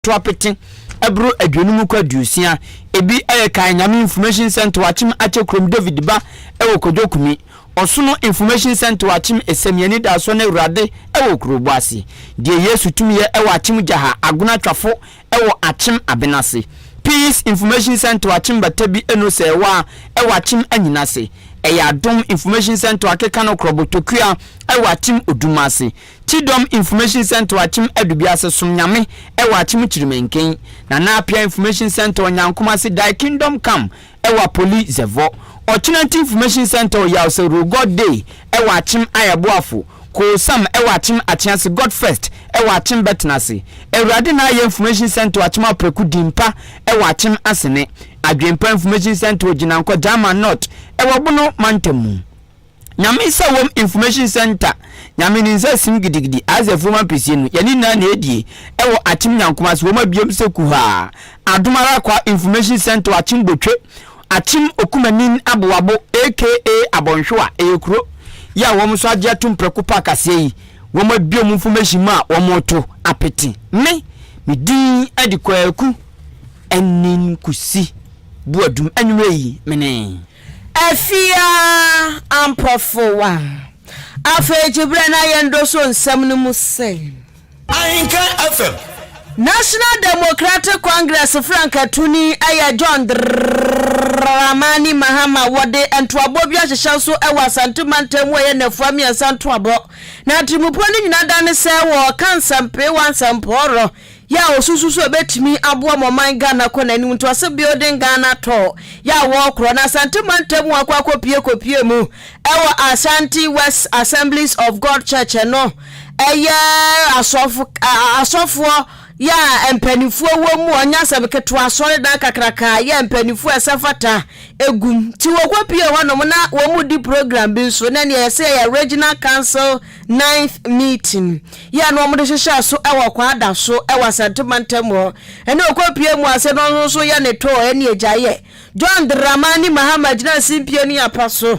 to apete boro aduonum kɔ aduosia. Ebi yɛ Kan Nyame Information Centre wɔ Akyem Akyɛ kurom, David Ba wɔ Kwadwo Kumi, Ɔsono Information Centre wɔ Akyem, Esemi Anidasoɔ ne Awurade wɔ Okurobo ase, Deɛ Yesu Tumi Yɛ wɔ Akyem Gyaha, Agona Atwafo wɔ Akyem Abenase, Peace Information Centre wɔ Akyem Batabi Eno Sɛɛwaa wɔ Akyem Anyinase, Ɛyɛ Adom Information Centre wɔ Akekano Krɔbo Tokua wɔ Akyem Odumase. Kyidɔm Information Centre wɔ Akyem Adubiase Som Nyame wɔ Akyem Kyirimenken, Nana Appiah Information Centre wɔ Nyankom ase Dae Kingdom Come wɔ Apoli Zɛvɔ, Ɔkyenanti Information Centre wɔ Yaose Rule God Day wɔ Akyem Ayɛboafo, Koo Sam wɔ Akyem Akyease God First wɔ Akyem Bɛtenase, Awurade na Ayɛ Information Centre wɔ Akyem Apraku Din Pa wɔ Akyem Asene, Adwen Pa Information Centre wɔ Gyinankɔ Gyama North wɔ Bono Mantam mu. Nyame nsa wom information center Nyame ne nsa sim gidigidi Isaac fuom ampesie no yɛne nyinaa na ɛdie Ɛwɔ akyem nyankoma ase wɔma biom sɛ kuhaa Adom ara kwa information center akyem botwe Akyem okumanin aboabo aka abɔnhwewa Ɛyɛ kuro yi a wɔn nso agye atom prɛko pɛ akaseɛ yi Wɔma biom information mu a wɔto apete Me me din de Kwaku Anin Kusi Boadum Anwummerɛ yi me ne. Afia Ampɔfowa, Afei Gyeberɛ na Yɛndɔ So Nsɛm no mu se. Ahenka FM. National Democratic Congress frankatuni yɛ John Dramani Mahama wɔde ntoabɔ bi ahyehyɛ nso wɔ Asante mantam mu a ɛyɛ nnafua mmiɛnsa ntoabɔ na atirimpɔ no nyina dane sɛ wɔɔka nsɛmpeewa nsɛmpɔɔrɔ Yɛ a wɔsusu sɛ wɔbɛtumi aboa ma ɔman Ghana kɔ n'anim, ntoase Building Ghana Tour yɛ a wɔrekorɔ no Asante mantam mu akɔ akɔpue kɔpue mu wɔ Ashanti West Assemblies of God Church ɛno yɛ asɔfo asɔfoɔ yɛ a mpanimfoɔ wɔ mu ɔnyɛ asɛm ketewa asɔredan kakraka yɛ a mpanimfoɔ ɛsɛ fata egum nti wɔkɔpue hɔnom na wɔn mu di program bi nso na nea yɛsɛ yɛ Regional Council Ninth meeting yi a na wɔde hyehyɛɛ so wɔ Kwaada so wɔ Asante mantam hɔ ne ɔkɔpie mu ase no nso yɛ ne too ne agyaeɛ. John Dramani Mahama gyinaa simpie ne apa so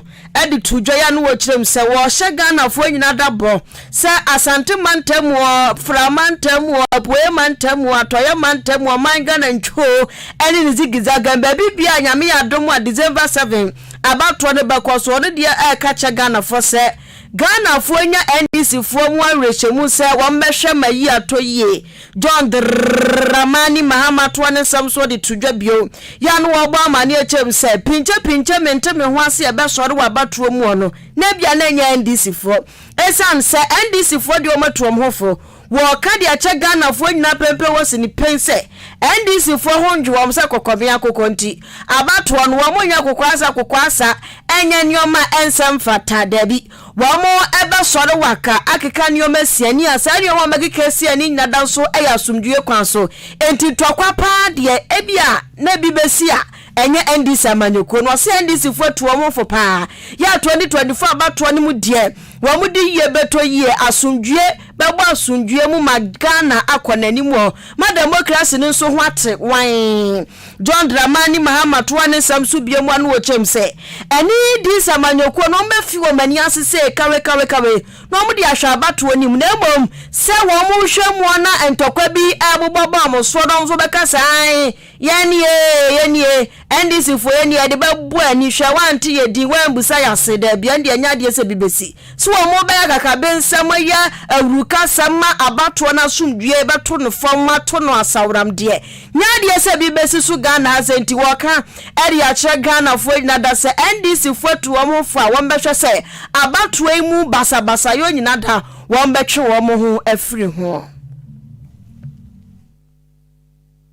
de too dwa yi ano wɔ kyerɛm sɛ wɔhyɛ Ghanafoɔ nyinaa da bɔ sɛ Asante mantam, Fra mantam, Apueɛ mantam, Atɔeɛ mantam, Ɔman Ghana ntwoo ne ne zigizagɛn baabi biara a Nyame yɛ adom a December 7 abatoɔ no bɛkɔ so, ɔno deɛ ɛreka kyerɛ Ghanafoɔ sɛ Ghanafoɔ nya NDC foɔ mu awerɛhyɛmu sɛ wɔn bɛhwɛ ma yi atɔ yie. John Dramani Mahama toa ne nsɛm soɔ de to dwa bio. Yɛ a na wɔrebɔ amaneɛ kyerɛ mu sɛ, Pinkye pinkye mente me ho ase a ɛbɛsɔre wɔ abatoɔ mu hɔ no, na ebia na ɛnyɛ NDC foɔ. Ɛsiane sɛ NDC foɔ deɛ wɔatu wɔn ho fo, Wɔka de akyɛ Ghanafoɔ nyinaa penpen wɔ sini pen sɛ NDC foɔ ho ndwe wɔn sɛ kɔkɔbea akokɔ nti abatoɔ no wɔn nyɛ akokɔ ansa akokɔ asa ɛnyɛ nnoɔma a ɛnsɛ mfata dabi wɔn bɛsɔre waka akeka nnoɔma asia ni a saa nnoɔma a wɔn bɛkeka asia ni nyinaa da nso yɛ asomdwoeɛ kwan so nti ntɔkwa paa deɛ ebi a na ebi bɛsi a ɛnyɛ NDC amanyɔkuo no ɔse NDC foɔ atu wɔn ho fo paa yɛ 2024 abatoɔ no mu deɛ wɔn de yie bɛtɔ yie asomdwoeɛ bɛbɔ asomdwoeɛ mu ma Ghana akɔ n'anim wɔ ma demokrasi no nso ho ate wann. John Dramani Mahama toa ne nsɛm so bue mu ano wɔ kyɛm sɛ, Ɛne these amanyɔkuo no wɔbɛfi wɔn ani ase sei kawekawekawe na wɔde ahwɛ abatoɔ no mu na mmom sɛ wɔnhwɛ mu na ntɔkwa bi rebobɔ ba wɔn soɔ na wɔn nso wɔbɛka sɛ aane Yɛn ni ee, yɛn ni ee, NDC foɔ yɛn ni ee, yɛde bɛbɔ ani, hwɛ wante yɛn din, wambusa yɛn ase, dabi ɛn deɛ ɛnyɛ adeɛ sɛ bi bɛsi. So wɔn bɛyɛ akakabensɛm ayɛ awurukasɛm ma abatoɔ no asomdwoeɛ bɛto no fam ma to no asaworam deɛ nyɛ adeɛ sɛ bi bɛsi so Ghana ha sɛ nti wɔka ɛde akyerɛ Ghanafoɔ nyina da sɛ NDC foɔ atu wɔn ho fo a wɔn bɛhwɛ sɛ abatoɔ yi mu basabasayɔ nyina da wɔn bɛtwe wɔn ho afiri ho.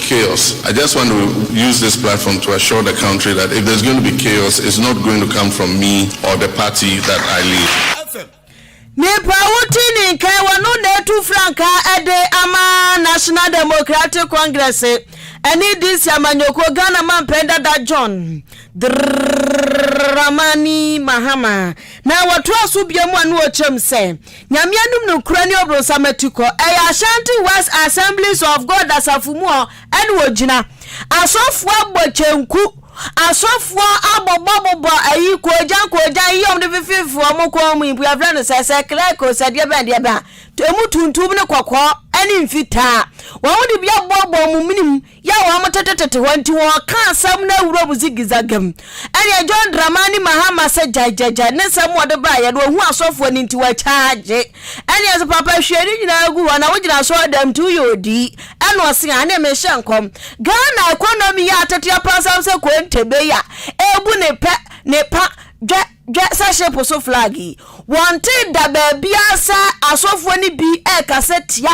chaos I just want to use this platform to assure the country that if there's going to be chaos it's not going to come from me or the party that I lead. Nipa a wote ne nkae wɔ no na atu frankaa de ama National Democratic Congress ne DC amanyɔkuo Ghana mampɛn dada John Dramani Mahama na wɔtoa so biom a na ɔkyɛm sɛ Nyame anum no nkura ne ɔbronsam atukɔ, ɛyɛ Ashanti West Assemblies of God asafo mu hɔ ɛna ɔgyina. Asɔfoɔ abɔ kyenku, asɔfoɔ abobɔ bobɔ ayi koogyan koogyan yi ɔmo de fefifi ɔmo kɔn mu yi bia frɛ no sɛ sɛ clerk o sɛ deɛ bɛn deɛ bɛn a, ɛmu tuntum ne kɔkɔɔ ɛne mfitaa, ɔmo de bi abobɔ ɔmo menem. yɛ a wɔtetetete hɔ nti wɔka asɛm no awuram zigizagam. Ɛnneɛ John Dramani Mahama sɛ gyaegyaegyae ne nsɛm wɔde baeɛ no ɔhu asɔfoɔ no nti wɔakyaagye. Ɛnneɛ sɛ papa hwie ne nyinaa gu hɔ na wogyina asɔredam nti woyɛ odii ɛna ɔse aane mehyɛ nkɔm Ghana economy yɛ ateteɛ pansam sɛ kontebe a ɛbu ne pɛ ne pa dwɛ Hwɛ sɛ ship so flag yi, wɔntee da baabiara sɛ asɔfoɔ no bi rekasa tia,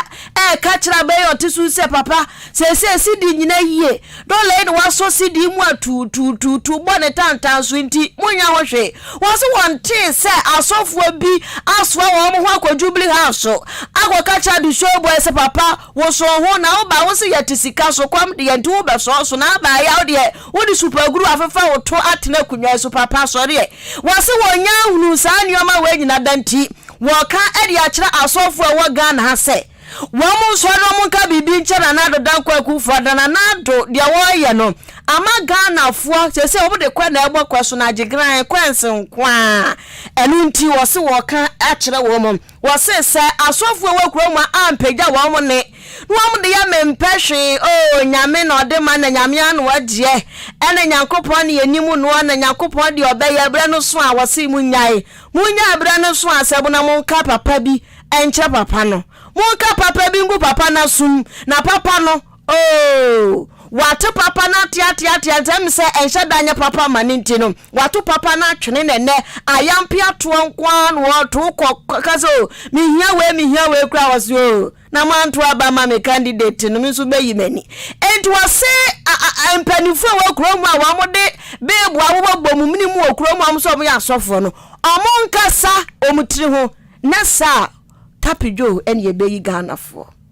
reka kyerɛ aban yi a ɔte so sɛ, Papa, seesei sidi nyina yie, dɔla yi na wasɔ sidi yi mu atuutuutuutuu bɔ ne tantan so, enti monnya ho hwee. Wɔn se wɔntee sɛ asɔfoɔ bi asoa wɔn ho akɔ Jubilee House akɔka kyerɛ Adesua Obuaye sɛ, Papa, Wo so ho na woba wo se yɛte sika so kɔm deɛ nti wobɛsɔ so na aba ayɛ wodeɛ wode supaguru afefa wo to atena akunwa yi so papa sɔre ɛ wɔse wɔnya ahunu saa nneɛma wei nyina da nti wɔka de akyerɛ asɔfo a ɛwɔ Ghana ha sɛ wɔn nsɔre wɔn nka biribi nkyɛ Nana Addo Dankwa Akufoɔ da Nana Addo deɛ wɔyɛ no ama Ghanafoɔ sese wɔn de kɔ na ɛbɔ kɔ so na agye gran kɔɛnse nko a ɛno nti wɔse wɔka akyerɛ wɔn Wɔse sɛ asɔfo a ɛwɔ kurom a ampagya wɔn mo nne na wɔn de yɛ me mpɛ hwee oo nyame na ɔde ma na nyame anoa deɛ ɛna nyankopɔn na yɛnim noɔ na nyankopɔn deɛ ɔbɛyɛ berɛ no so a wɔse mo nyae mo nyae berɛ no so a sɛbo na monka papa bi nkyerɛ papa no monka papa bi ngu papa no asom na papa no Oh, wɔate papa no ateateatea, enti ɛm sɛ ɛnhyɛ da nyɛ papa ma ne nti no, wɔato papa no atwene na ɛnɛ ayampe atoɔ nko ara na wɔto kɔ ka sɛ o, oh, mehia wei mehia wei kora wɔ se o, oh, na moanto aba ma me candidate no me nso bɛyi m'ani. Enti wɔse mpanimfoɔ wɔ kuro mu a wɔde beebo awobɔbɔ mu mene mu wɔ kuro mu a wɔn sɛ wɔyɛ asɔfoɔ no, wɔn nkasa wɔn tiri ho na saa tapidwo ɛne ɛbɛyi Ghanafoɔ.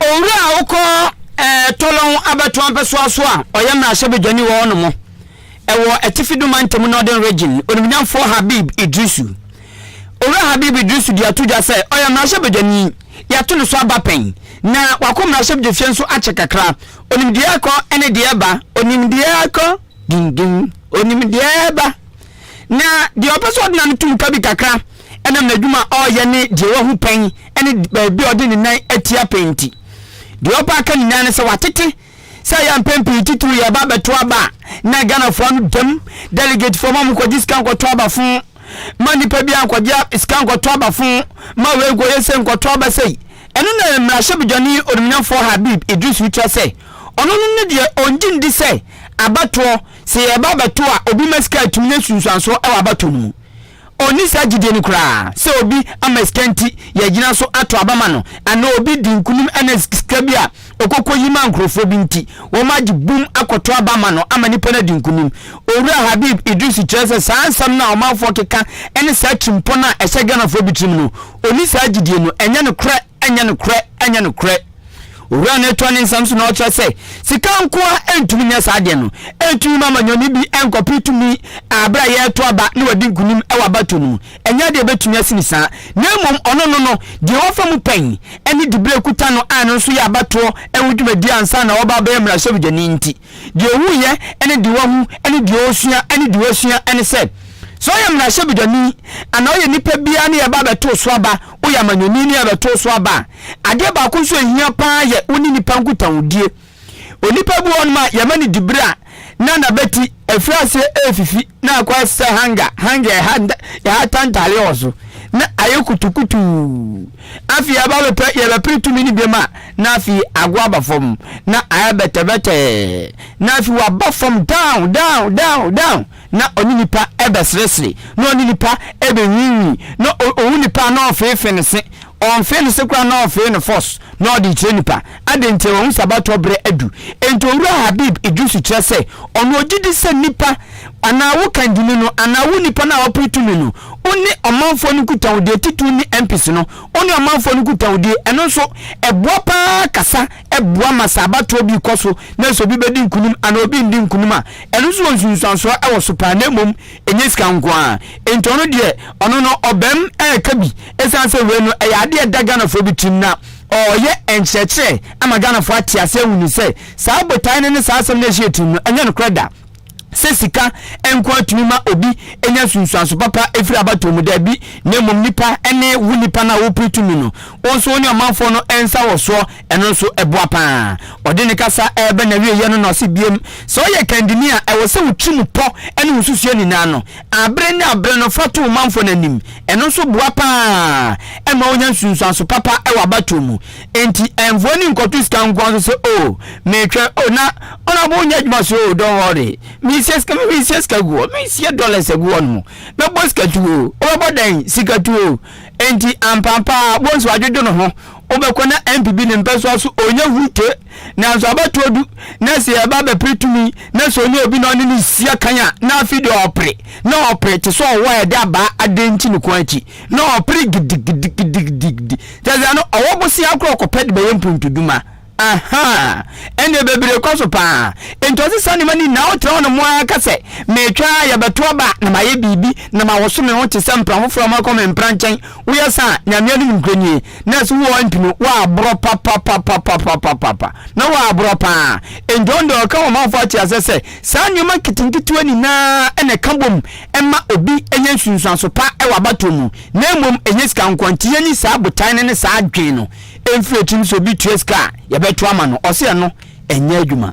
Owura a wokɔ ɛɛ Tɔlɔn abatoɔ mpɛsoa so a ɔyɛ mmarahyɛbadwani wɔ hɔ nom ɛwɔ Atifi Doma Ntamu Northern Region, Onimnyamfoɔ Habib Idrisu. Owura Habib Idrisu de ato dwa sɛ ɔyɛ mmarahyɛbadwani, yɛato ne so aba pɛn, na wakɔ mmarahyɛbdwafie nso akyɛ kakra. Onim deɛ ɛkɔ ne deɛ ɛba. Onim deɛ ɛkɔ, ding ding, onim deɛ ɛba. Na deɛ ɔpɛ sɛ ɔde n'ano to mu ka bi kakra. ɛnam n'adwuma a ɔreyɛ ne deɛ wahu pɛn ne baabi a ɔde ne nan atia pɛn nti. Deɛ ɔpa aka nyinaa ne sɛ watete sɛ ɛyɛ a mpɛn pii titiriw yɛ ɛba abɛto aba a na Ghanafoɔ ano dam, delegatefoɔ ma wɔkɔgye sika nkɔto aba fo ma nipa biara nkɔgye sika nkɔto aba fo ma wei nkɔyɛ sei nkɔto aba sei. Ɛno na mmarahyɛbadwani Onimunyamfoɔ Habib Idris rekyerɛ sɛ ɔno no ne deɛ ɔngye ndi sɛ abatoɔ sɛ yɛreba abɛto a obi ma sika atumi nya nsunsuansoɔ wɔ abatoɔ no mu. Ɔnni saa gyidie no koraa sɛ obi ama sika nti yɛagyina so ato aba ama no anaa obi di nkunim ɛna sika bi a ɔkɔkɔ yi maa nkorɔfoɔ bi nti wɔn agye bum akɔto aba ama no ama nipa no adi nkunim. Owura Habib Idrisu kyerɛ sɛ saa nsɛm no a ɔmanfoɔ keka ɛne saa atirimpɔ no a ɛhyɛ Ghanafoɔ bi tirim no ɔnni saa gyidie no ɛnyɛ nokorɛ. Ɛnyɛ nokorɛ, ɛnyɛ nokorɛ. Owura no atoa ne nsɛm so na ɔkyerɛ sɛ, sika nko ara ntumi nyɛ saa adeɛ no. Ɛntumi mma amanyɔni bi nkɔpere tumi a berɛ a yɛreto aba na wadi nkonim wɔ abatoɔ no mu. Ɛnyɛ adeɛ a ɛbɛtumi asi no saa. Na mmom ɔno no no, deɛ wafa mu pɛn ne diberɛ a ɛkuta no a ɛno nso yɛ abatoɔ ho dwumadie ansa na waba abɛyɛ mmarahyɛbadwani nti. Deɛ ɔhu yɛ ne deɛ wahu ne deɛ ɔresua ne deɛ wasua ne sɛ, sɛ ɔyɛ mmarahyɛbedwani anaa ɔyɛ nipa biara ne yɛba abɛtoo so aba, woyɛ amanyɔni ne yɛbɛtoo so aba a, adeɛ baako nso a ɛhia pa ara yɛ wo ne nipa nkutahodie. Onipa bi wɔ hɔnom a yɛma no diberɛ a na n'abati afiri aseɛ refifi. Na akɔ asɛ hanga hanga ɛha nta ɛha ta ntaare wɔ so na ayɛ kutukutuu afei aba bɛpɛ yɛbɛpere tumi no biam a na afei ago aba fam na ayɛ bɛtɛbɛtɛɛ na afei waba fam down down down down na ɔne nipa ɛbɛseresere na ɔne nipa ɛbɛnwinwin na ɔhu nipa na ɔfeefe ne se ɔnfee ne se koraa na ɔfee ne fɔs na ɔde kyerɛ nipa Adɛn nti? Wahu sɛ abatoɔ berɛ adu. Enti Owura Habib Idrisu kyerɛ sɛ ɔno ɔgye di sɛ nnipa anaa wo kandini no anaa wo nnipa no a wapere tumi no, wo ne ɔmanfoɔ no nkutahodie, titiriw ne MPs no, wo ne ɔmanfoɔ no nkutahodie, ɛno nso ɛboa pa ara kasa boa ma sɛ abatoɔ bi rekɔ so na sɛ obi bɛdi nkunim anaa obi rendi nkunim a, ɛno nso wɔ nsunsuansoɔ wɔ so pa ara na mmom ɛnyɛ sika nko ara. Enti ɔno deɛ, ɔno no ɔbam reka bi, ɛsiane sɛ wei no ɛyɛ adeɛ a ɛda Ghanafoɔ bi tirim na Ɔreyɛ nkyerɛkyerɛ ama Ghanafoɔ ate aseɛ ahu no sɛ saa botaeɛ no ne saa asɛm no a ɛhyɛɛ tirim no ɛnyɛ nokorɛ da sɛ sika nko ara tumi ma obi nya nsunsuanso papa firi abatoɔ mu, daabi, na mmom nnipa ne wo nnipa no a wopere tumi no wo nso wo ne ɔmanfoɔ no nsa wɔ soɔ ɛno nso boa pa ara. Ɔde ne kasa reba n'awieeɛ no na ɔse biom sɛ woyɛ kandini a ɛwɔ sɛ wo tirim pɔ ne wo nsusuiɛ nyinaa no Bere ne bere no fa to wo manfo no anim. Ɛno nso boa paa ma wonya nsunsuanso papa wɔ abatoɔ mu. Enti mfoɔ ani nkɔto sika nkoa so sɛ oh metwɛn oh na honourable wonyɛ adwuma so oh don't worry merehyia sika me merehyia sika gu hɔ merehyia dollars agu hɔ nom mɛbɔ sika tu oh wobɛbɔ dɛn sika tu oh enti ampampaa wɔn nso adwodwo no ho wobɛkɔ na MPB ne mpɛsoa so ɔnyɛ hute Nanso abatoɔ du na sɛ yɛba bɛpere tumi na sɛ ɔne obi na ɔne ne sia kan a na afei deɛ ɔpere na ɔpere te sɛ ɔwɔ a yɛde abaa adan nti ne kɔn akyi na ɔpere gidigidigidigidi kyɛ sɛ no ɔwɔ bosea akorɔ kɔpɛ de bɛyɛ mpuntuduma ahaa ɛnneɛ bebree kɔ so paa nti ɔse saa nneɛma ne nyinaa wotra hɔ no mo ara ka sɛ metwa a yɛbɛto aba na mayɛ biribi na mawɔso me ho te sɛ mpra foforɔ a makɔ me mpra nkyɛn Woyɛ sa a, Nyame anim nkranie. Nurse wo ɔmpi no, woaborɔ papapapapapapapa. Na woaborɔ paa. Enti ɔno deɛ ɔka ɔmanfoɔ akyɛ asɛ sɛ, saa nneɛma nketenketewa nyinaa na ɛka bom ma obi nya nsunsuanso pa wɔ abatoɔ mu. Na mmom ɛnyɛ sika nko ara. Nti yɛnyi saa botae no ne saa adwene no mfiri tirim sɛ obi tua sika a, yɛbɛto ama no. Ɔse ɛno ɛnyɛ adwuma.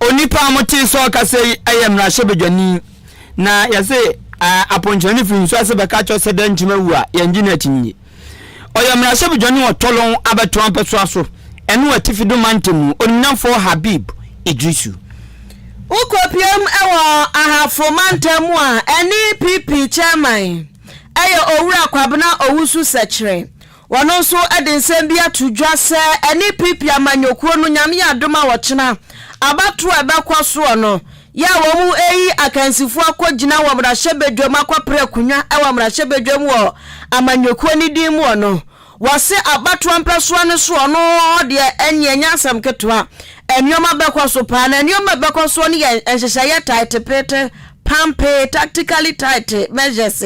Onipa a mote sɛ ɔkasa yi yɛ mmarahyɛbadwani, na yɛse aponkyerɛni firi nsu ase bɛka kyerɛ sɛ dɛn nti na awu a yɛngye no akyinnye. Ɔyɛ mmarahyɛbadwani wɔ Tolon abɛtoa mpɛsoa so, ɛno wɔ atifi do mantamu, onimnyamfoɔ Habib Idrisu. Wokɔpuem wɔ Ahafo mantam mu a ɛne PP chairman yɛ Owura Kwabena Owusu-Sɛkyerɛ. Wɔno nso de nsɛm bi ato dwa sɛ ɛne PP amanyɔkuo no Nyame yɛ adom a ɔkyena abatoɔ a ɛbɛkɔ soɔ no yɛ a wɔn reyi akansifoɔ akɔ gyina wɔ mmarahyɛbadwam akɔ pere akonwa wɔ mmarahyɛbadwam wɔ amanyɔkuo no din mu ɔno wɔse abatoɔ mpɛsoa no so ɔno deɛ ɛnneɛ ɛnyɛ asɛm ketewa nnoɔma bɛkɔ so paa na nnoɔma a ɛbɛkɔ soɔ no yɛ nhyehyɛeɛ taetepeete Pampee, tactically tight measures,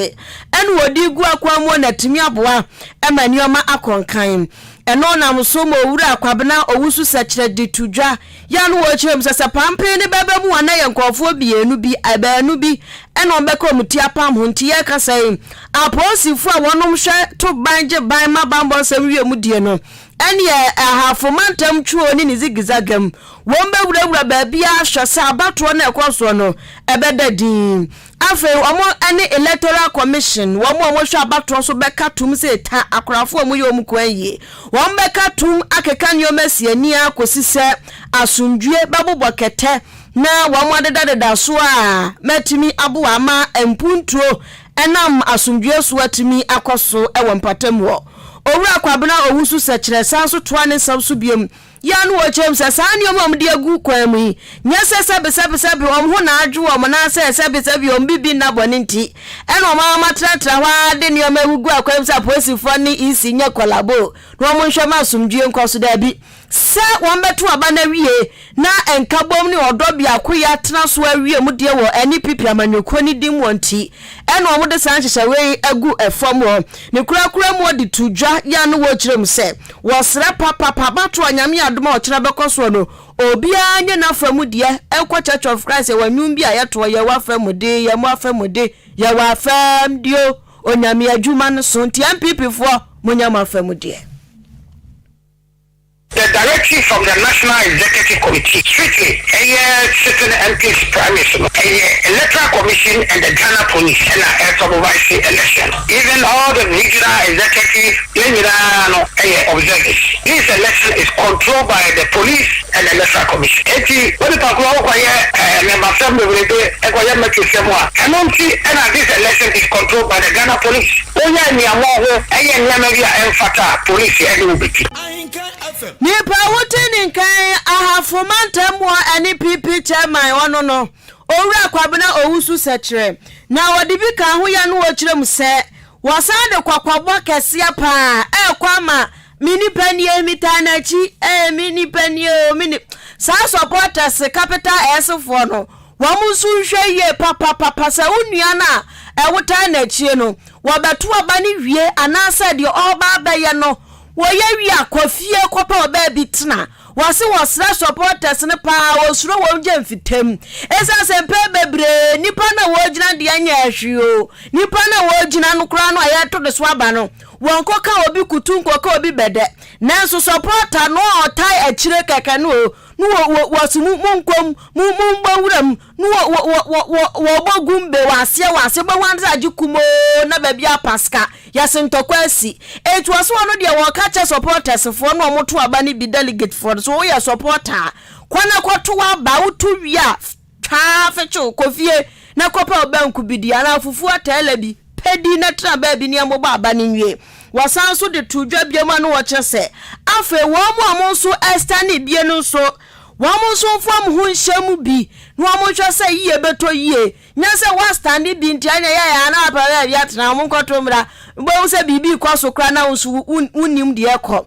ɛna wɔde gu akwan mu na tumi aboa ma nneɛma akɔ nkan. Ɛno nam so ma Owura Kwabena Owusu sɛkyerɛ de to dwa. Yɛ a na wɔkyerɛ mu sɛ, sɛ pampee no bɛba mu a na ɛyɛ nkurɔfoɔ mmienu bi, a baanu bi, ɛna wɔbɛka wɔn ti apam ho. Nti yɛkasa yi, apolisifoɔ a wɔnom hwɛ to ban gye ban ma bammɔ nsɛm wie mu die no, Ɛnneɛ Ahafo Mantam Turo ne ne zigizagam, wɔbɛwurawura baabiara ahwɛ sɛ abatoɔ no a ɛkɔ soɔ no, ɛbɛda dinn. Afei wɔne Electoral Commission, wɔn a wɔhwɛ abatoɔ so bɛka tom sɛ ɛta akorafoɔ a wɔyɛ wɔn kwan yie. Wɔbɛka tom akeka nneɛma asi ani ara kɔsi sɛ asomdwoeɛ bɛbobɔ kɛtɛ na wɔadedadeda so a matumi aboa ama mpuntuo Ɛnam asomdwoeɛ so atumi akɔ so wɔ mpatam hɔ. Owura Kwabena Owusu Sɛkyerɛ san nso toa ne nsɛm so biom yɛ ano wɔ kyerɛ mu sɛ saa nneɛma a wɔde agu kwan mu yi nyɛ sɛ sɛbesɛbesɛbe wɔn ho na adwo wɔn anaasɛ sɛbesɛbe wɔn bibi nna bɔne nti na wɔama wɔatenatena hɔ ara de nneɛma agugu akwan mu sɛ apolisifoɔ ne EC nyɛ kɔlabo na wɔnhwɛ ma asomdwoeɛ nkɔ so. Daabi. sɛ wɔbɛto aba no awie na Nkabom ne Ɔdɔ Biakoyɛ atena so awie mu deɛ wɔ NPP amanyɔkuo no din mu hɔ nti ɛna wɔde saa nhyehyɛeɛ yi agu fam hɔ. Ne korakora mu wɔde to dwa ya no wɔkyerɛ mu sɛ wɔsrɛ papapa mato a Nyame adom a ɔkyena bɛkɔ soɔ no obiara nyɛ n'afa mu deɛ ɛnkɔ Church of Christ yɛwɔ nnwom bi a yɛtoɔ yɛwɔ afa mu de yɛn mo afa mu de yɛwɔ afa mu deɛ o Onyame adwuma no so nti NPP foɔ monyɛ mo afa mu deɛ. The directory from the National Executive Committee strictly ɛyɛ sitting MPs primaries no ɛyɛ Electoral Commission and the Ghana Police ɛna ɛsupervise election even all the regional executive yɛn nyinaa no ɛyɛ observers this election is controlled by the Police and the Electoral Commission ɛnti onipa koro ɔkɔ yɛ mmɛbasɛm bebrebe ɛkɔ yɛ mmɛtwesɛm a ɛno nti ɛna this election is controlled by the Ghana Police wɔyɛ aniamɔn ho ɛyɛ nneɛma bi a ɛnfata a Police ɛde metwi. Nipa a wodi ne nkan Ahafo Mantam wɔ ɛne PP Chairman ɔno no Owura Kwabena Owusu sɛkyerɛ na wɔde bi ka ho yɛ no wɔkyerɛ mu sɛ wɔsan de kɔkɔbɔ kɛseɛ paa ɛrekɔ ama me nipa nie metaa no akyi ɛɛ me nipa nie o me ni saa supporters capital S foɔ no Wɔn nso nhwɛ yie papapapa sɛ wo nua no a ɛwotaa n'akyie no, wɔbɛto aba no wie anaasɛ deɛ ɔreba abɛyɛ no wɔyɛ wie a kɔ fie kɔpɛ ɔbaa bi tena. Wɔse wɔsrɛ supporters no paa a wɔsuro wɔn gye mfitam. Ɛsiane sɛ mpɛn bebree nnipa no a wɔgyina deɛ ɛnyɛ hwee o, nnipa no a wɔgyina no koraa no a yɛreto no so aba no, wɔnkɔka obi kutu nkɔka obi bɛdɛ. Nanso supporter no a ɔtaa akyire kɛkɛ no o, No wɔ wɔ wɔsi mu mu nkom mu mu mbɔ nwura mu no wɔ wɔ wɔ wɔ wɔ wɔbɔ gumbe wɔ aseɛ wɔ aseɛ bɛhu adze agye kumoo na baabi apa sika yɛsi ntɔkwa asi eti wɔsi wɔn deɛ wɔka kyɛ supporters foɔ na wɔn to aba no bi delegate foɔ no so woyɛ supporter a kɔ na kɔ to aba woto wie a. Twaa afe kyew, kɔ fie na kɔpɛ wo banku bi di, anaa fufuo atɛɛlɛ bi pɛ di na tena baabi na ɛmmobɔ aba no nwie. Wɔsan nso de too dwa bio ma no wɔ kyerɛ sɛ, afei wɔn a wɔn nso Ester ne bie no nso, wɔn nso mfa wɔn ho nhyɛ mu bi na wɔn nhwɛ sɛ yie bɛtɔ yie. Nyɛ sɛ woastande bi nti ɛnna ɛyɛ yaa na woapɛ baabi atena, wɔn nkɔto mmra, wobɛhu sɛ biribi rekɔ so koraa na wo nso wonnim deɛ ɛrekɔ.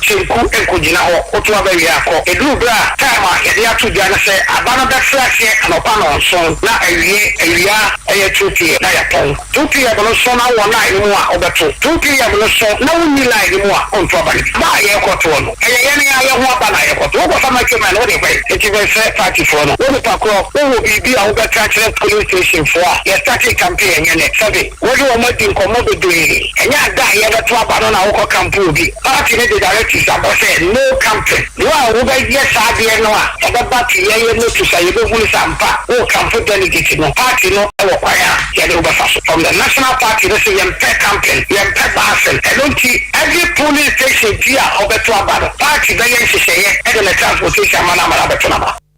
kyenku nkogyina hɔ koto aba wie akɔ. Ɛduru berɛ a time a yɛde ato dwa no sɛ aba no bɛfiri aseɛ anɔpa nnɔnson na awie awia ɛyɛ 2pm na yɛtɔn 2pm no so na wɔ line no mu a wobɛto 2pm no so na wonni line no mu a wonto aba no bi. Aba a yɛrekɔtoɔ no ɛyɛ yɛn a yɛho aba na yɛkɔto. Wokɔfa micro mine wode kɔ he? Enti bɛsrɛ partyfoɔ no wo nipa korɔ wowɔ biribi a wobɛka akyerɛ polling station foɔ a yɛstartee campaign ɛnyɛ nnɛ? Survey. Wo ne wɔn adi nkɔmmɔ bebree. Ɛnyɛ ada a yɛrebɛto aba no na wokɔ camp wɔ bi. Party no de directives aba sɛ no camping. Wo a wobɛyɛ saa adeɛ no a, ɛbɛba te yɛyɛ notice a yɛbɛhunu sɛ ampa wowɔ camp delegate no. Party no wɔ kwan a yɛne wo bɛfa so. From the national party no se yɛmpɛ camping, yɛmpɛ busing. Ɛno nti every polling station bi a wɔbɛto aba no, party bɛyɛ nhyehyɛeɛ de ne transportation ama no ama no abɛto no aba.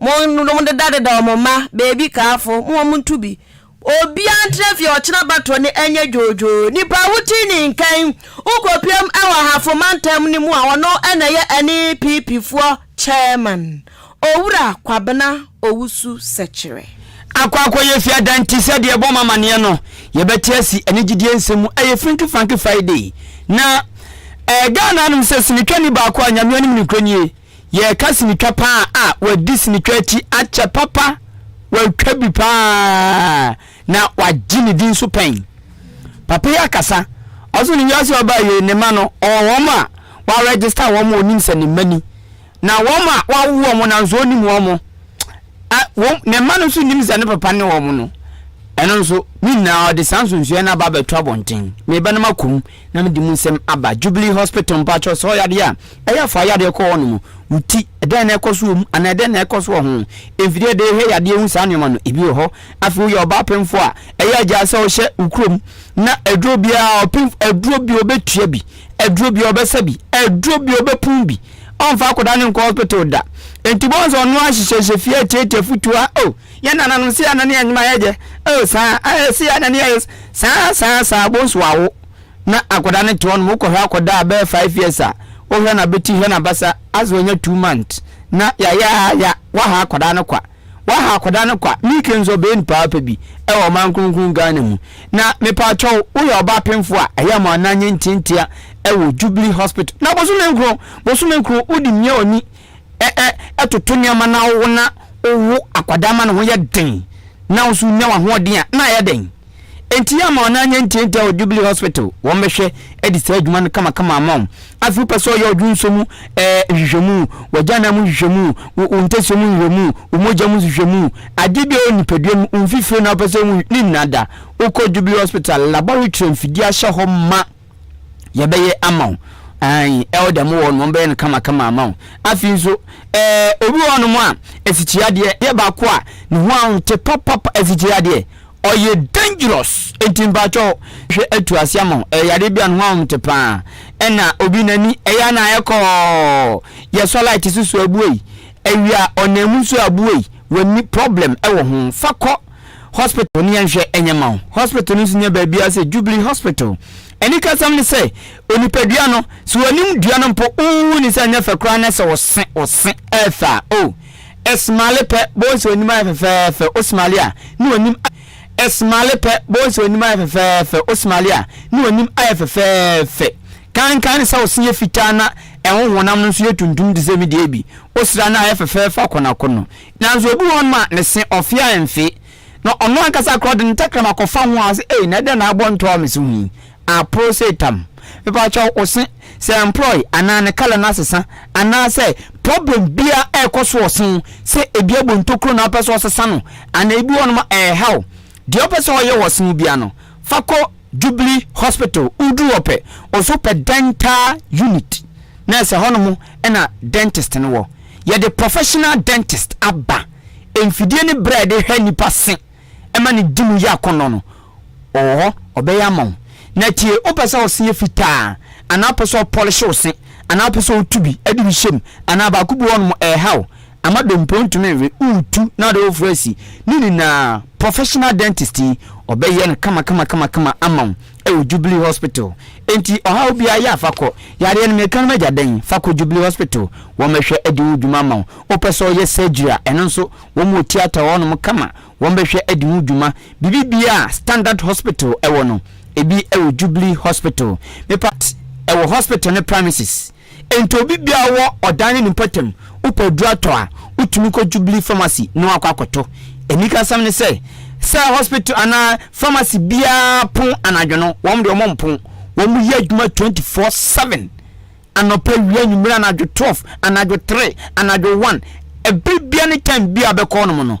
Monnom dedadedaw mo mma, baabi kaafo, mo wɔn nto bi. Obiara ntra fie a ɔkyena batɔ no ɛnyɛ dwoodwoo. Nnipa a wote ne nkan, wokopiam wɔ Ahafo mantam no mu a ɔno na ɛyɛ ɛne PP foɔ Chairman, Owura Kwabena Owusu Sɛkyerɛ. Akɔ akɔyɛ fiadan nti sɛ deɛ ɛbɔ mo amaneɛ no yɛbɛte asi ɛne gyidie nsɛm mu ɛyɛ Franky Franky Friday na ɛɛ Ghana anom sɛ sinitwani baako a Nyame anim nokorɛ nie Yɛreka sinitwa paa a, wɔadi sinitwa akyi akyɛ papa, wɔatwa bi paa na wɔagye ne din so pɛn. Papa yi akasa, ɔso ne wiase a ɔbaa yei, ne mma no, ɔwɔ wɔn a wɔaregister wɔn a ɔnim sɛ ne mma ni, na wɔn a wɔawo wɔn nanso ɔnnim wɔn, a, wɔn, ne mma no nso nnim sɛ ne papa ne wɔn no. Ɛno nso, ne nyinaa ɔde saa nsonsoɛ no aba abɛto abɔnten. Meba no makɔ mu. na mede mu nsɛm aba Jubilee Hospital mpakyɛw sɛ ɔyadeɛ a ɛyɛ a fa yadeɛ kɔ hɔ nom wo ti dɛn na ɛkɔ so wɔ mu anaa dɛn na ɛkɔ so wɔ ho mfidie de hwɛ yadeɛ hu saa nneɛma no ebi wɔ hɔ afei woyɛ ɔbaa pemfoɔ a ɛyɛ agyaa sɛ ɔhyɛ wo kurom na aduro biara ɔpem aduro bi ɔbɛtua bi aduro bi ɔbɛsa bi aduro bi ɔbɛpon bi ɔmfa akɔda ne nkɔ hospital da enti bɔn sɛ ɔno ahyehyɛhyɛ fie atiatia futuo a o oh, Yɛn nananom si Anania nnwuma yɛ dɛ oh saa ah esi Anania yɛ saa saa saa bonsu wawo na akɔda ne te hɔ nom wo kɔ hwɛ akɔda a bɛyɛ five years a wo hwɛ na beti hwɛ na basa as wanya two month na ya ya ya waha akɔda no kwa waha akɔda no kwa me ke nso ɔbɛyɛ nipa apa bi ɛwɔ ɔman kronkron Ghana mu na me pa kyɛw wo yɛ ɔba apemfo a ɛyɛ mo anan nye ntiantia ɛwɔ jubilee hospital na bosome nkron bosome nkron wo di mia oni ɛ-ɛ-ɛ toto nneɛma na wowo na wowo akwadaa ma ne ho yɛ den na wo nso wonya w'ahoɔden a, na ayɛ dɛn? Enti yɛ ama wɔn anyɛ ntiantia wɔ Jubilee Hospital, wɔn bɛhwɛ adi saa adwuma no kamakama ama wo. Afei wopɛ sɛ ɔyɛ ɔdwonsɔ mu ɛɛ nhwehwɛmu, w'agyanan mu nhwehwɛmu, wo wo ntasuo mu nhwehwɛmu, wo mogya mu nhwehwɛmu, adeɛ biara wɔ nipadua mu, wo mfifire na wopɛ sɛ wohu, ne nyinaa da. Wokɔ Jubilee Hospital laboratory a mfidie ahyɛ hɔ ma. yɛbɛyɛ ama wo ayi elder mo wɔ no bɛyɛ no kama kama ama wo afi nso ɛɛ obi wɔ no mo a afikyiri adeɛ yɛ baako a ne ho ahote papapa afikyiri adeɛ ɔyɛ dangerous nti mpakyɛ hwɛ atu ase ama wo ɛyɛ adeɛ bi a ne ho ahote paa ɛna obi n'ani ɛyɛ na ayɛ kɔɔ yɛsɔ light soso abuei awia ɔnam mu nso abuei w'ani problem ɛwɔ ho fa kɔ hospital no yɛ nhwɛ nyɛ mma wo. Hospital no nso nyɛ baabiara sɛ Jubilee Hospital. Anikasɛm ne sɛ, onipadua no, sɛ w'anim dua no mpo, wonhu no sɛ ɛnyɛ fɛ koraa na sɛ ɔse, ɔse, ɛyɛ fɛ a, oh, ɛsmale pɛ, bohu sɛ w'anim ayɛ fɛfɛɛfɛ, wosmale a, ne w'anim ayɛ Ɛsmale pɛ, bohu sɛ w'anim ayɛ fɛfɛɛfɛ, wosmale a, ne w'anim ayɛ fɛfɛɛfɛ. Kankan ne sɛ wo se yɛ fitaa na ɛho honam no nso yɛ tuntum te sɛ me deɛ bi, wosra no a, ɛyɛ fɛfɛɛfɛ akonoakono. Naaso obi wɔ hɔnom a ne se ɔfee a emmfe, na ɔno ankasa koraa ɔdze ne tɛkrɛma kɔfa ho a ɔse, Ei, na dɛn na abɔ ntɔɔ me se ho yi? Aporow se tam. Mepakyɛw, wo se, sɛ mprɔe anaa ne colour no asesa anaasɛ problem biara rekɔ so wɔ se ho, sɛ bi abɔ ntokuro na ɔpɛ sɛ ɔsesa no anaa bi wɔ hɔnom a ɛrehaw Deɛ wopɛ sɛ ɔyɛ wɔ se wo biara no, fa kɔ Jubilee Hospital. Woduru hɔ pɛ, wɔsɛ wopɛ dental unit, na ɛsɛ hɔnom na dentist no wɔ. Yɛde professional dentist aba. Mfidie ne berɛ a yɛde hwɛ nnipa se ma no di mu yɛ akɔnnɔ no, ɔwɔ hɔ, ɔbɛyɛ ama wo. Na tie, wopɛ sɛ wo se yɛ fitaa a, anaa wopɛ sɛ wɔpɔlehye wo se, anaa wopɛ sɛ wɔtu bi de bi hyɛ mu, anaa baako bi wɔ hɔnom ɛreha wo, Ama dompo ntumi nwe wo tu na ɔde wo fra si ne nyinaa professional dentist yi ɔbɛyɛ no kamakamakama ama wo ɛwɔ jubilee hospital enti ɔhaw biaa yɛ a fa kɔ yareɛ no meka no magya dɛn fa kɔ jubilee hospital wɔmɛhwɛ adi ho dwuma ama wo wopɛ sɛ ɔyɛ surgery a ɛno nso wɔn wɔ theatre wɔ hɔnom kama wɔmɛhwɛ adi ho dwuma biribi biaa standard hospital ɛwɔ no ebi ɛwɔ jubilee hospital mepa ɛwɔ hospital no premises Enti obi biara wɔ ɔdan ne ne mpɔtam, wopɛ aduru atɔ a, wotumi kɔ Jubilee Pharmacy na woakɔ akɔtɔ. Anikasɛm ne sɛ, sɛ hospital anaa pharmacy biara pon anadwo no, wɔn deɛ wɔmpo. Wɔyɛ adwuma twenty four seven, anɔpa, awia, anwummere, anadwo twelve, anadwo three, anadwo one, ɛbere biara ne time biara a bɛkɔɔ nom no.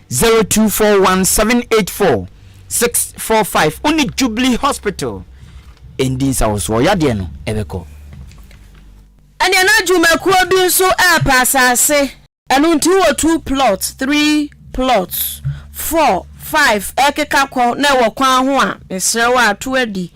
Zero two four one seven eight four six four five wo ne Jubilee Hospital ndi nsawosoɔ yadeɛ no ɛbɛkɔ. Ɛnneɛ na dwumakuo bi nso repɛ asase. Ɛno nti wowɔ two plots, three plots, four, five ɛrekeka kɔ na ɛwɔ kwan ho a, mesrɛ wo a, to adi.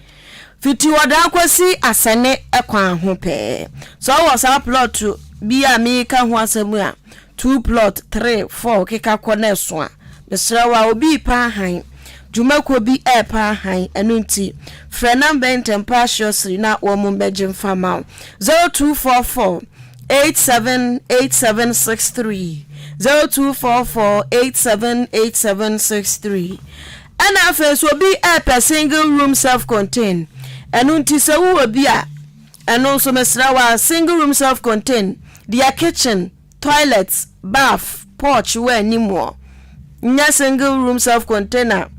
Fiti Ɔdaa kɔsi Asɛne kwan ho pɛɛ. Sɛ ɔwɔ saa plot bi a mereka ho asɛm a, two plot, three, four keka kɔ na ɛso a, mesrɛ wo a, obi repa hann, dwumakuo bi repa hann, ɛno nti, frɛ number yi ntɛm pa ara surely na wɔmmɛgye mfa mma wo, zero two four four eight seven eight seven six three, zero two four four eight seven eight seven six three. Ɛna afei nso obi ɛɛpɛ single room self contain ɛno nti sɛ wowɔ bi a ɛno nso mesrɛ wo a single room self contain deɛ kitchen, toilet, bath, porch wɔ anim wɔ nyɛ single room self contain a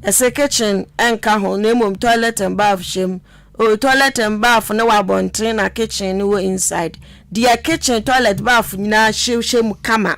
ɛsɛ kitchen ɛnka ho na mmom toilet and bath hyɛm o toilet and bath no wɔ abɔnten na kitchen no wɔ inside deɛ kitchen, toilet, bath nyinaa hyɛ hyɛ mu kama.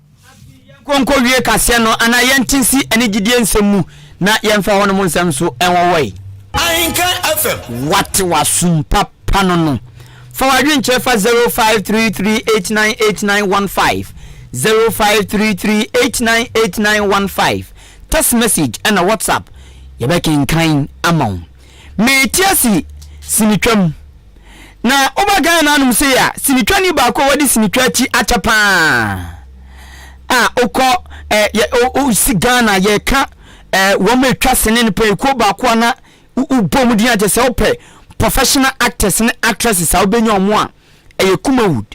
Yɛnkonkowie kaseɛ no anaa yɛnte nsi ɛne gyidie nsɛm mu na yɛmfa hɔnom ho nsɛm nso nwɔwɔe. Ahenka FM. Wate w'asom papa no no? Fa w'adwenkyerɛ fa 0533898915, 0533898915, text message ɛna WhatsApp, yɛbɛkenkan ama wo. Metease Sinitwam. Na wobɛkae no anom sei a, sinitwani baako a wɔde sinitwa akyi akyɛ paa a wokɔ eh, yɛ, o, o, si Ghana yɛka eh, wɔn a atwa sene no pɛn kuo baako a na wo- wobɔ mu din akyɛ sɛ wopɛ professional actors ne actresses a wobɛnya wɔn a ɛyɛ Kumawood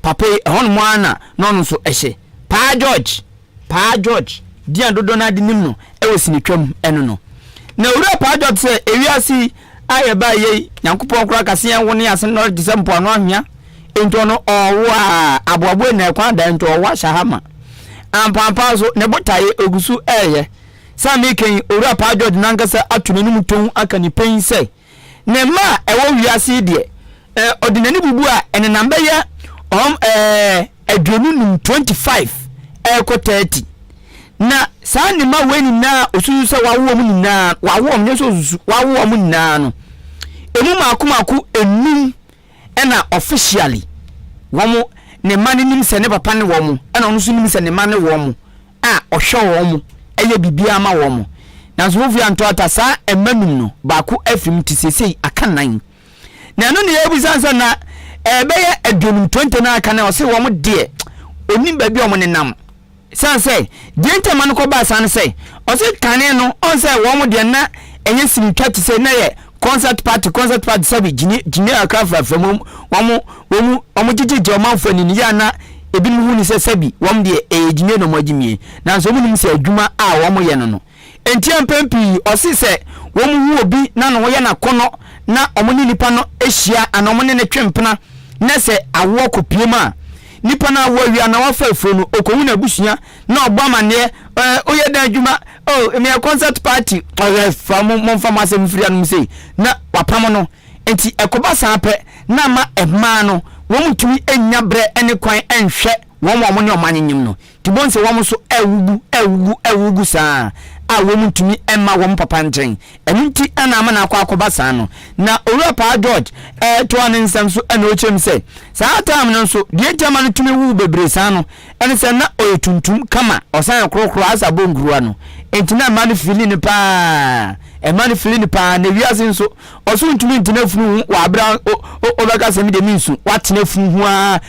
Papa yi, ɛhɔnom ara na na ɔno nso hyɛ. Paa George! Paa George! Din a dodoɔ no ara de nim no wɔ sinitwam no no. Na Owura Paa George sɛ, Ewiase yi a yɛbaeɛ yi, Nyankopɔn koraa ka sɛ yɛnwo ne yɛn asene nnɔre te sɛ mpoano anhwea. Enti ɔno ɔrewo a, aboaboa nyinaa kwan da, enti ɔrewo ahyɛ ha ma. Ampaapa nso, ne botaeɛ, ɔgu so reyɛ. Sɛ mereka yi, Owura Paa George no ankasa ato n'anim tɔnn aka ne pɛn sɛ, Ne mma a ɛwɔ wiase yi deɛ, eh, ɔde n'ani bubu a, ɛnenam bɛyɛ ɔm, eh, aduonu num, twenty five, ɛrekɔ thirty. Na saa ne mma wei nyinaa osusu sɛ wawo wɔn nyinaa, wawo wɔn, nyɛ sɛ osusu, wawo wɔn nyinaa no, emu mmaako mmaako enum. ɛna officially wɔn ne mma no nim sɛ ne papa ne wɔn ɛna ɔno nso nim sɛ ne mma ne wɔn a ɔhwɛ wɔn ɛyɛ biribiara ma wɔn nanso wofiri antɔ ata saa mma num no baako afiri mu te sesei aka nnan na ɛno ne yɛbisa sɛ na ɛbɛyɛ aduonum 20 no aka na ɔse wɔn deɛ onim baabi a wɔn nenam Esiane sɛ deɛ nti a mma no kɔbaa saa ne sɛ, ɔse kane no ɔhu sɛ wɔn deɛ na ɛnyɛ sinitwa te sɛ, na ɛyɛ concert party, concert party sɛbe gyini gyini kakra frafra mu, wɔn wɔn wɔn gyegyegye ɔmanfoɔ ani no yɛ a na ebinom hu no sɛ sɛbe wɔn deɛ ɛyɛ gyimie na wɔn agyimie, nanso wɔn nnim sɛ adwuma a wɔn yɛ no no Enti mpɛn pii ɔse sɛ wɔhu obi na ne ho yɛ no akɔnnɔ na wɔne nipa no hyia anaa wɔne no twe mpena na sɛ awoɔ kɔpue mu a, nipa no awo awie anaa wafa afuo no, ɔkɔhu n'abusua na ɔbɔ amanneɛ, eh, woyɛ dɛn adwuma? Oh, meyɛ concert party. Ɔhwɛ fa mo momfa mo asɛm mfiri anom sei na wapamo no. Enti ɛkɔba saa pɛ na ama mmaa no wɔntumi nnya berɛ ne kwan nhwɛ wɔn a wɔne wɔn anyenyem no. Nti bohu sɛ wɔn nso awugu, awugu, awugu saa a wɔn ntumi mma wɔn papa nkyɛn. Ɛno nti na ama no akɔ akɔba saa no. Na Owura Paa George toa ne nsɛm so na ɔkyerɛ mu sɛ, saa time no nso, deɛ nti ama no tumi wuu bebree saa no, ɛne sɛ na ɔyɛ tuntum kama, ɔsan yɛ korokoro asa bɔ nkuruwa no. Nti na mmaa no feeli no paa, mmaa no feeli no paa, na wiase nso, Ɔso ntumi ntena funu ho wɔ abere a wobɛka sɛ mede me nsu watena funu ho a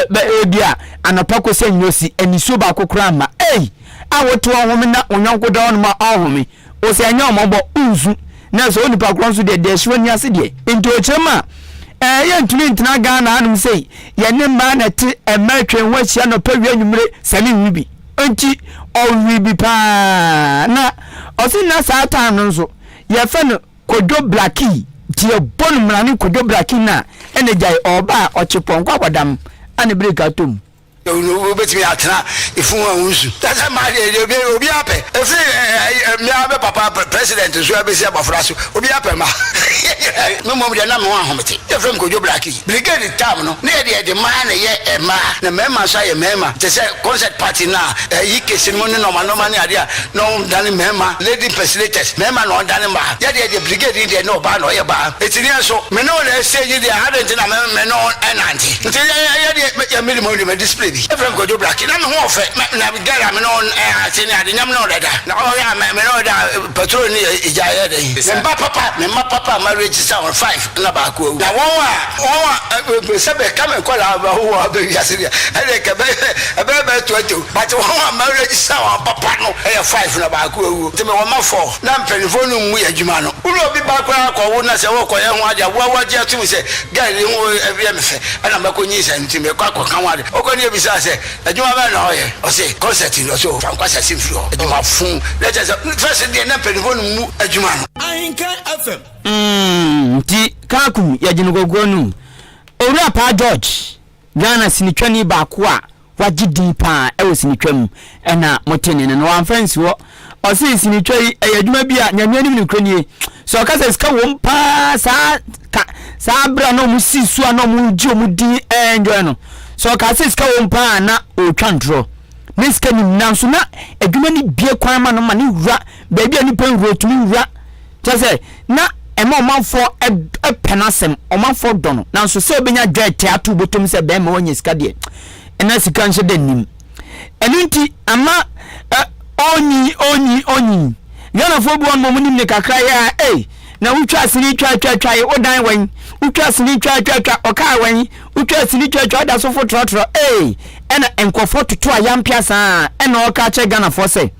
bɛ ebi a anɔpa kɔsi anwuo si anisuo baako koraa mma ei a wote wɔn home na wo yɔnko da hɔnom a ɔnhome o sɛ ɛnyɛ ɔmɔbɔ nsu na sɛ onipa korɔ nso deɛ deɛ ɛhye w'ani ase deɛ nti ɔkyerɛ mu a ɛɛ yɛntumi ntena Ghana hanom sei yɛne mmaa na ɛte mmaa atwa ho ahyia nɔpa wie anwummere sɛ ne nwi bi nti ɔwe bi paa na ɔse na saa time no nso yɛfɛ no Kwadwo Blackie deɛ bɔ no mmra ne Kwadwo Blackie no a ɛna gyae ɔɔba a ɔkye pɔnkɔ abɔdam a ne break atɔ mu. Wobɛtumi atena ɛfunu ho a wonsu. Kyerɛ sɛ mmaa deɛ deɛ obiara obiara pɛ. Ɛfiri me ara me papa president so abɛsi abɔfra so obiara pɛ mma. Me mmom deɛ na me ho ahomete. Yɛfrɛ me Kwadwo Blackie. Brigade tam no ne yɛde yɛde mmaa na ɛyɛ mmaa na mmarima nso ayɛ mmarima te sɛ concert party no a ɛyi case no mu ne nɔɔma nɔɔma ne adeɛ a na wɔn dane mmarima lady impersonators mmarima na wɔn dane mmaa yɛ deɛ deɛ brigade yi deɛ ne ɔbaa na ɔyɛ baa eti ne yɛn nso me ne wɔn na ɛsɛ yi deɛ ha deɛ nti na me me ne wɔn ɛnante nti yɛ yɛ yɛ deɛ yɛ mi de mo de ma display bi efirɛ nkɔdwo black na me ho ɔfɛ na na girl a me ne wɔn ɛɛ ase ne ade nyam ne wɔn dada na ɔyɛ a me me ne wɔn da patrol ne yɛ egya yɛ dɛ me mba papa me mma papa ma register wɔn five. na baako awu. Na wɔn a wɔn a wɔpɛ sɛ bɛka me nkwadaa a wɔawo wɔn aba wiase deɛ, ɛnneɛ anka ɛbɛyɛ ɛbɛyɛ bɛyɛ twenty o, but wɔn a maregister wɔn papa no yɛ five na baako awu. Nti mewɔ mma four. Na mpanimfoɔ no mmu yɛn adwuma no. Wo ne obi ba koraa kɔwo na sɛ worekɔyɛ ho ade a, wo ara woagye atom sɛ girl yi ho yɛ me fɛ, ɛnna mɛkɔnyinsɛn no nti mekɔ akɔka ho ade. Ɔkɔ ne bisaa sɛ, Adwuma bɛn na ɔreyɛ? Ɔse, Concert ni. Ɔse, Oh, fa nkwasease mfiri hɔ. Adwuma fuu. Na kyerɛ sɛ, first no deɛ na mpanimfoɔ no mmu adwuma no. Ahenkan FM. Mm nti Kaakum yɛ gye no gɔgorɔ nom. Owura Paa George, Ghana sinitwani baako a wagye din paa wɔ sinitwa mu na mote ne nne no, wamfa ansi hɔ. Ɔse sinitwa yi ɛyɛ adwuma bi a Nyame anim nokorɛ nie. Sɛ ɔka sɛ sika wom paa saa ka saa berɛ a na ɔmo si so a na ɔmo gye ɔmo din enjoy no. Sɛ ɔka sɛ sika wom paa a na ɔretwa ntorɔ. Ne sika nim nanso na adwuma no bue kwan ma no ma ne wura baabi a nipa nwura otumi nwura kyɛ sɛ na ɛma ɔmanfoɔ ɛpɛ n'asɛm ɔmanfoɔ dɔ no nanso sɛ ɔbɛnya dwa ɛtɛ ato bɔtɔm sɛ bɛrima wanya sika deɛ ɛna sika nhyɛ da nnim ɛno nti ama ɛ ɔnyi ɔnyi ɔnyi ghanafoɔ bi wɔn mu nim ne kakra yɛ a ei na wotwa asini twa twa twa yi wodan wɛn wotwa asini twa twa twa ɔkaa wɛn wotwa asini twa twa ɔda so fotorɔtorɔ ei ɛna nkurɔfoɔ toto a yɛampea saa ɛna ɔka kyerɛ ghanafoɔ sɛ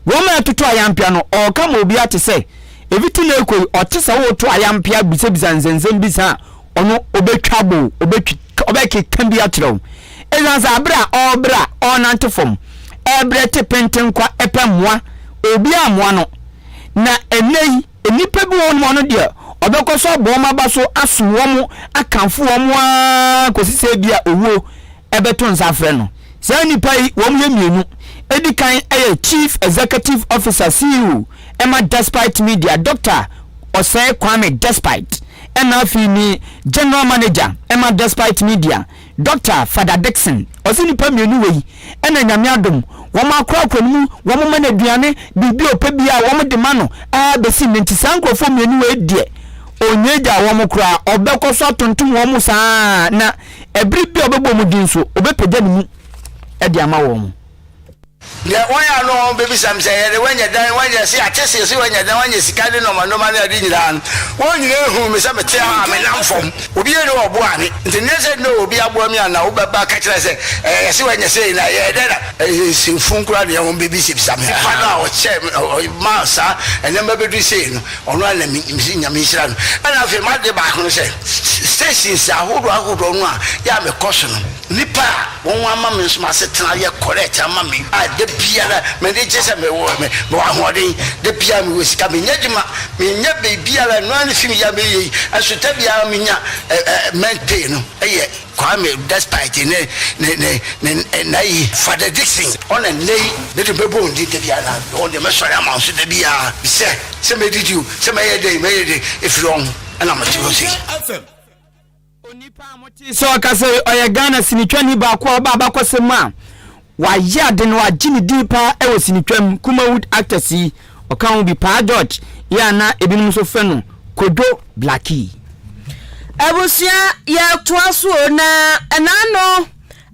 Wɔn a ɛtoto ayampea no, ɔɔka ma obi ate sɛ, Eviti na ɛkɔ yi, ɔte sɛ ɔɔto ayampea bisabisa nsɛnsɛm bi saa a, ɔno ɔbɛtwa bo, ɔbɛtwi, ɔbɛkeka bi akyerɛ wo. Ɛsan sɛ abrɛ a ɔɔbrɛ a ɔɔnante fam, ɛɛbrɛ te pentenkwa ɛpɛ mmoa, obiara mmoa no. Na ɛnnɛ yi, Nnipa bi wɔ hɔnom a ɔno deɛ ɔbɛkɔ so abɔ wɔn aba so asom wɔn, akamfo wɔn ara kɔsi sɛ ebia owuo bɛto nsa afrɛ no. Saa nnipa yi, wɔyɛ mmienu. Ɛdi kan yɛ Chief Executive Officer, CEO, ma Despite Media, Doctor Osei Kwame Despite, ɛnna afei ne General Manager ma Despite Media, Dɔkta Fada Dickson, ɔse nipa mmienu wei na Nyame adom wɔn akorakora no mu wɔn ma no aduane, biribi a ɔpɛ biaa wɔn de ma no aa bɛsi nnɛ nti saa nkorɔfoɔ mmienu wei deɛ ɔnnya agyaa wɔn koraa ɔbɛkɔ so atontom wɔn saa na ɛbere bi a ɔbɛbɔ wɔn din nso ɔbɛpagya ne mu de ama wɔn. Ndɛ hɔn a no hɔn bebisa me sɛ, Yɛdɛ woenya dan, woenya ase, yɛatse se ese woenya dan, woenya sika ne nɔɔma nɔɔma ne ade nyina no, hɔn nyina hun me sɛ metse ha a, menam fam. Obi nnyi hɔ a ɔboaa me, ntsi nnyɛ sɛ nna ɔwɔ bi aboa me a na wobɛba akã kyerɛ sɛ, Ɛɛ, yɛse woenya sei na ɛyɛɛ dɛn na. Ɛyɛ nsɛmfun koraa na hɔn bebisabisa me. Nyimpa no a ɔkyɛɛ me maa saa ndzɛmba bedur sei no, ɔno ara na minyim dze, Nyame nhyira no. Nna afei m'adze baako no sɛ, stations ahodoɔ ahodoɔ no a yɛ a mekɔ so no, nyimpa a. Wɔn ama me nso m'asetena ayɛ correct ama me a da biara m'ani gye sɛ mewɔ mewɔ ahoɔden, da biara mewɔ sika, menyɛ adwuma, menyɛ biribiara, ɛno ara ne fi meyɛ a meyɛ yi, nso da biara menya month pay no yɛ Kwame despite ne ne ne ne nna yi. Father Dickson, ɔna nnɛ yi mede bɛbɔ wɔn din da biara na wɔn deɛ mɛsɔre ama wɔn nso da biara sɛ sɛ mɛdidi o, sɛ mɛyɛ dɛn mɛyɛ dɛn ɛfiri wɔn na mete hɔ sei. Onipa a motee sɛ ɔkasa yi, ɔyɛ Ghana sinitwani baako a ɔba abakɔsɛm mu a wayɛ ade na wagye ne din paa wɔ sinitwa mu, Kumawood Actors yi, ɔka ho bi, Paa George yi a na ebinom nso frɛ no Kojo Blackie. Abusua yɛtoa so o na ɛnaano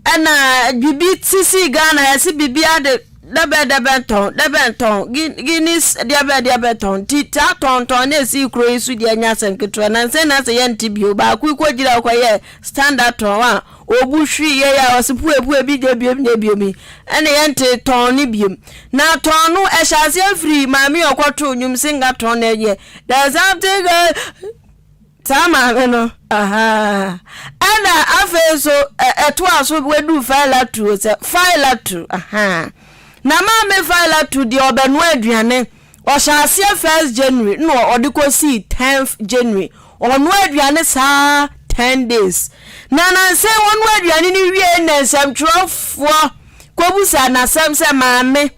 Ɛna bibi ti si Ghana yɛsi bibi ade dɛbɛn dɛbɛn tɔn dɛbɛn tɔn guinness deɛbɛn deɛbɛn tɔn ti taa tɔn tɔn na esi kuro yi so deɛ nyɛ asɛm ketewa na nsɛn na sɛ yɛn ti bio baako yi kɔ gyina kɔ yɛ standard tɔn a obu hwi yɛ yɛ ɔsi pue pue bi deɛ biem deɛ biem yi ɛna yɛn ti tɔn ne biem na tɔn no ɛhyɛ aseɛ firi maame ɔkɔto nyum singa tɔn na ɛyɛ there's something. Saa maame no, ahaa. Ɛna afei nso ɛtoa so wadu faila tuo sɛ faila tu, ahaa. Na maame faila tu deɛ ɔbɛnoa aduane. Ɔhyɛ aseɛ first January na ɔde kɔsii 10th January. Ɔnoa aduane saa 10 days. Na nansa wɔnoa aduane no wie na nsɛmtwerɛfoɔ kɔbusa n'asɛm sɛ maame.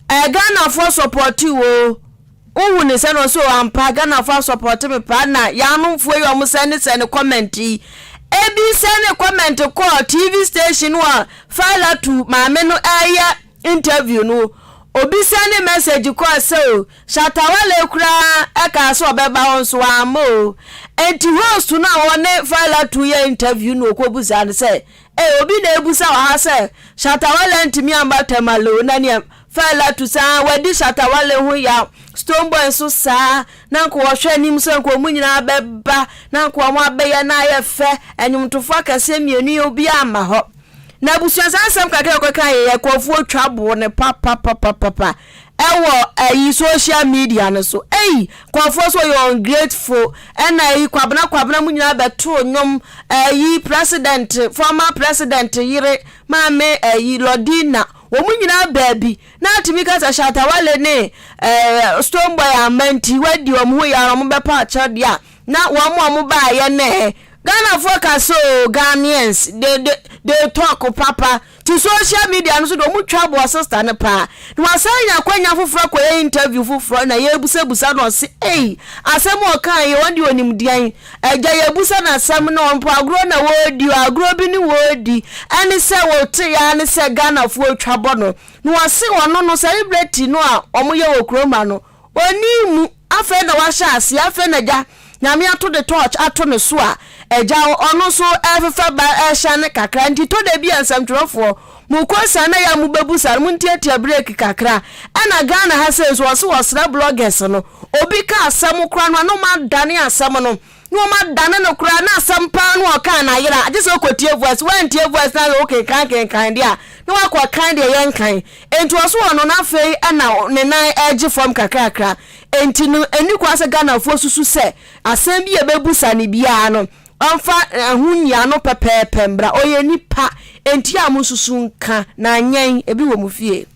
Ɛɛ Ghanafoɔ support wo o. Wohu ne sɛ no so ampa Ghanafoɔ a support me paa na yanomfoɔ yi ɔmo sɛne sɛne comment yi. Ebi sɛne comment kɔɔ TV station a Failatu maame no ɛɛyɛ interview no. Obi sɛne message kɔɔ sɛ o Shatta Wale koraa ɛkaa sɛ ɔbɛba hɔ nso wamma o. Enti host no a ɔne Failatu yɛ interview no ɔkɔbusaa no sɛ Ei obi na ebusa wɔ ha sɛ Shatta Wale antumi amma Tamale o na nea Fela to saa wadi Shatta Wale ho yaw Stonebwoy nso saa na nka wɔhwɛ anim sɛ nka wɔn nyinaa bɛba na nka wɔn abɛyɛ na ayɛ fɛ ɛnwomtofo akɛseɛ mmienu yi obiara amma hɔ na abusua saa nsɛm kakra a ɔkɔkaeɛ yɛ kɔɔfoɔ twa boo no papapapapapa ɛwɔ ɛyi social media no so ei nkurɔfoɔ so ɔyɛ ungrateful ɛna ɛyi kwabena kwabena mu nyinaa bɛtoo nnwom ɛyi president former president yere maame ɛyi lodina wɔn nyinaa baabi na atumi ka sɛ shatawale ne ɛɛ stone boy ama nti wadi wɔn ho yɛ ara wɔn bɛpa akyɛw deɛ a na wɔn a wɔn baayɛ nɛɛ ghanafoɔ ka sɛ o ghanaians they they they talk papa Tse social media no so dɛ ɔmo twa aboa sister no paa na ɔasan nya akwanya fofor akɔyɛ interview fofor na yeebusabusa no ɔse ei asɛm a ɔkaa yi ɔno de ɔnim deɛn agya yeebusa no asɛm na ɔmpo agorɔ na wɔredi o agorɔ bi ne wɔredi ɛne sɛ wɔtee aa ne sɛ Ghanafoɔ twa bɔ no na ɔse ɔno no saa ibrɛti no a ɔmo yɛ wɔ Kuromba no Ɔnnii mu, afei na wahyɛ aseɛ, afei na Agya Nyame ato the torch ato ne so a, Agya hɔ, ɔno nso ɛrefefa ba, ɛrehyɛne kakra, nti tɔ da bi a nsɛmtwerɛfoɔ, mo kɔ saa na yɛ a mo bɛbu saa no, mo ntiatia break kakra, ɛna Ghana ha sei nso, wɔse wɔsrɛ bloggers no, obi ka asɛm koraa no a, na wɔn adane asɛm no. Na wɔadane no koraa, na asɛm paa no a ɔkae no ayera. Agye sɛ wokotie voice. Woantie voice no anhwɛ wokenkan kenkan deɛ a, na woakɔ kan deɛ yɛnkan. Enti ɔso wɔ no na afei na ne nan regye fam kakrakra. Enti no, ɛnni kwan sɛ Ghanafoɔ susu sɛ asɛm bi a ɛbɛbusa no biara no, ɔmfa ho nni ano pɛpɛɛpɛ mmra. Ɔyɛ nipa, enti yɛ a monsusu nka, na nyɛn, ebi wɔ mo fie.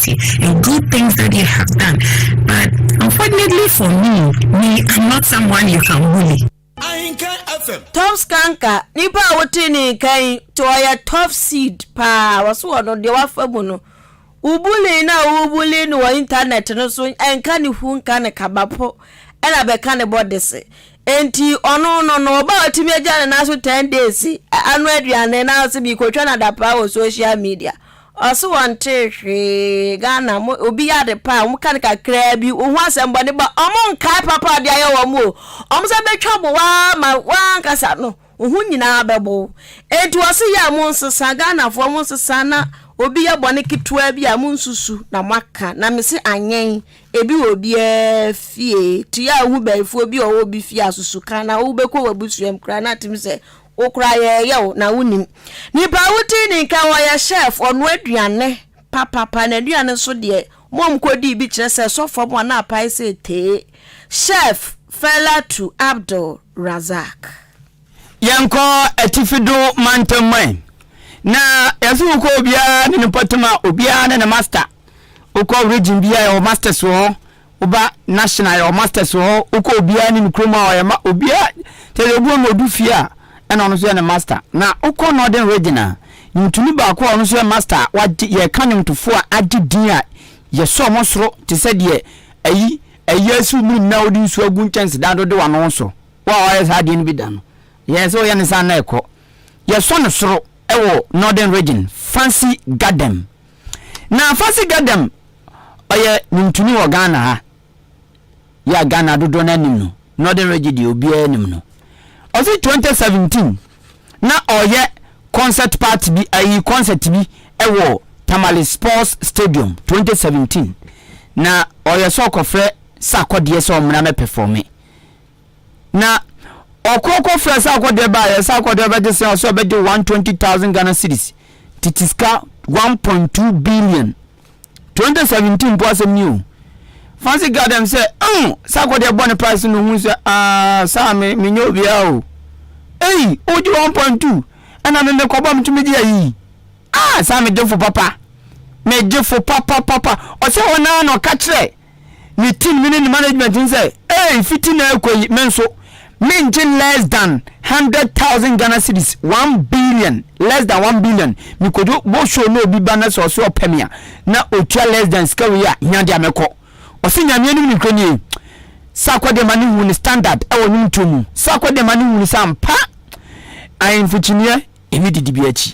nti no good things that they have done but unfortunately for me me am not someone you can bully. Ahenkan FM. Tops Kanka, nipa a wotee ne nka yi nti ɔyɛ top seed paa wɔse wɔ no deɛ wafa mu no wo bullying no a wobuli no wɔ internet no so ɛnka ne hu nka ne kaba po ɛna bɛka ne bɔdese enti ɔno no no ɔba a ɔtumi agya ne nan so 10 days ano aduane na ɔse meekɔtwa no adapaa wɔ social media Ɔse wɔntee hwee Ghana mo obi yɛ ade pa a wɔn ka no kakraa bi wohu asɛmbɔne ba wɔn nkae papa a ɔde ayɛ wɔn o wɔn sɛ bɛtwa bo waa ma waa ankasa no wo ho nyinaa bɛbo wo enti ɔse yɛ a mo nsesa Ghanafoɔ mo nsesa na obi yɛ bɔne ketewa bi a mo nsusu na mo aka na mese anyɛn ebi wɔ obiaa fie to yɛ a wohu bɛyifoɔ bi a ɔwɔ obi fie a susu ka na wo bɛkɔ w'abusuam koraa na atimi sɛ Wo koraa yɛɛ yaw na wo nim. Nipa a wo dii ni nka wɔ yɛ chef ɔnoa aduane papapa na aduane nso deɛ mom kɔ dii bi kyerɛ sɛ sɔ fam a na apae sɛ tee chef Failatu Abdul Razak. Yɛnkɔ Atifi Dun Mantam man na yɛse wokɔ obiara ne ne pɔtem a obiara ne ne master wokɔ region biara yɛwɔ masters wɔ hɔ. Woba national yɛ wɔ masters wɔ hɔ, wokɔ obiara anim kurom a ɔyɛ ma obiara kyɛ sɛ obi wɔ ma odu fie a ɛna ɔno nso yɛ ne master. Na wokɔ northern region a nwomtoni baako a ɔno nso yɛ master a wagye yɛka nwomtofo a agye din a yɛsɔ wɔn soro te sɛ deɛ ayi ayi asi wo mirim na wode nsuo agu nkyɛnsedan do de w'ano so. Wo a wayɛ saa adeɛ no bi da no yɛ sɛ woyɛ ne saa na ɛkɔ. Yɛsɔ no soro wɔ northern region, Fancy Gadem. Na Afasi Gadam ɔyɛ nwomtoni wɔ Ghana ha yi a Ghana dodoɔ no ara nim no, Northern Region deɛ obiara nim no. Ɔsi 2017 na ɔreyɛ concert party bi ayi concert bi wɔ Tamale Sports Stadium 2017 na ɔreyɛ sɛ ɔkɔfrɛ Sarkodie sɛ ɔmmra mɛpɛfɔme. Na ɔkɔ kɔ frɛ sɛ akɔ deɛ baayɛ sɛ akɔ deɛ ɔbɛgye sɛ ɔsɛ ɔbɛgye one twenty thousand Ghana cedis tete sika one point two billion twenty seventeen mpo asɛm ni o fancy garden sɛ ɛn oh, sɛ akɔ deɛ bɔ ne price no ohun sɛ aa saa me me nyɛ obiara o eyi ogye one point two ɛna me me kɔbɔ me tumi gye ayi aa saa me gyefo papa me gyefo papa papa ɔsɛ wɔn naa na ɔka kyerɛ. ne team no ne ne management no sɛ ei fiti na ɛkɔ yi me nso mengye less than hundred thousand Ghana cedis one billion less than one billion mekodwo bɔ show na obi ba na sɛ ɔsɛ ɔpɛ me a na otua less than sika wei a hia deɛ mɛkɔ ɔsɛ nyame anim ne kura nie sakɔ deɛ ma ne hu ne standard ɛwɔ nwom tuo mu sakɔ deɛ ma ne hu ne sɛ ampa ahemfo kyiniɛ ɛne didibea akyi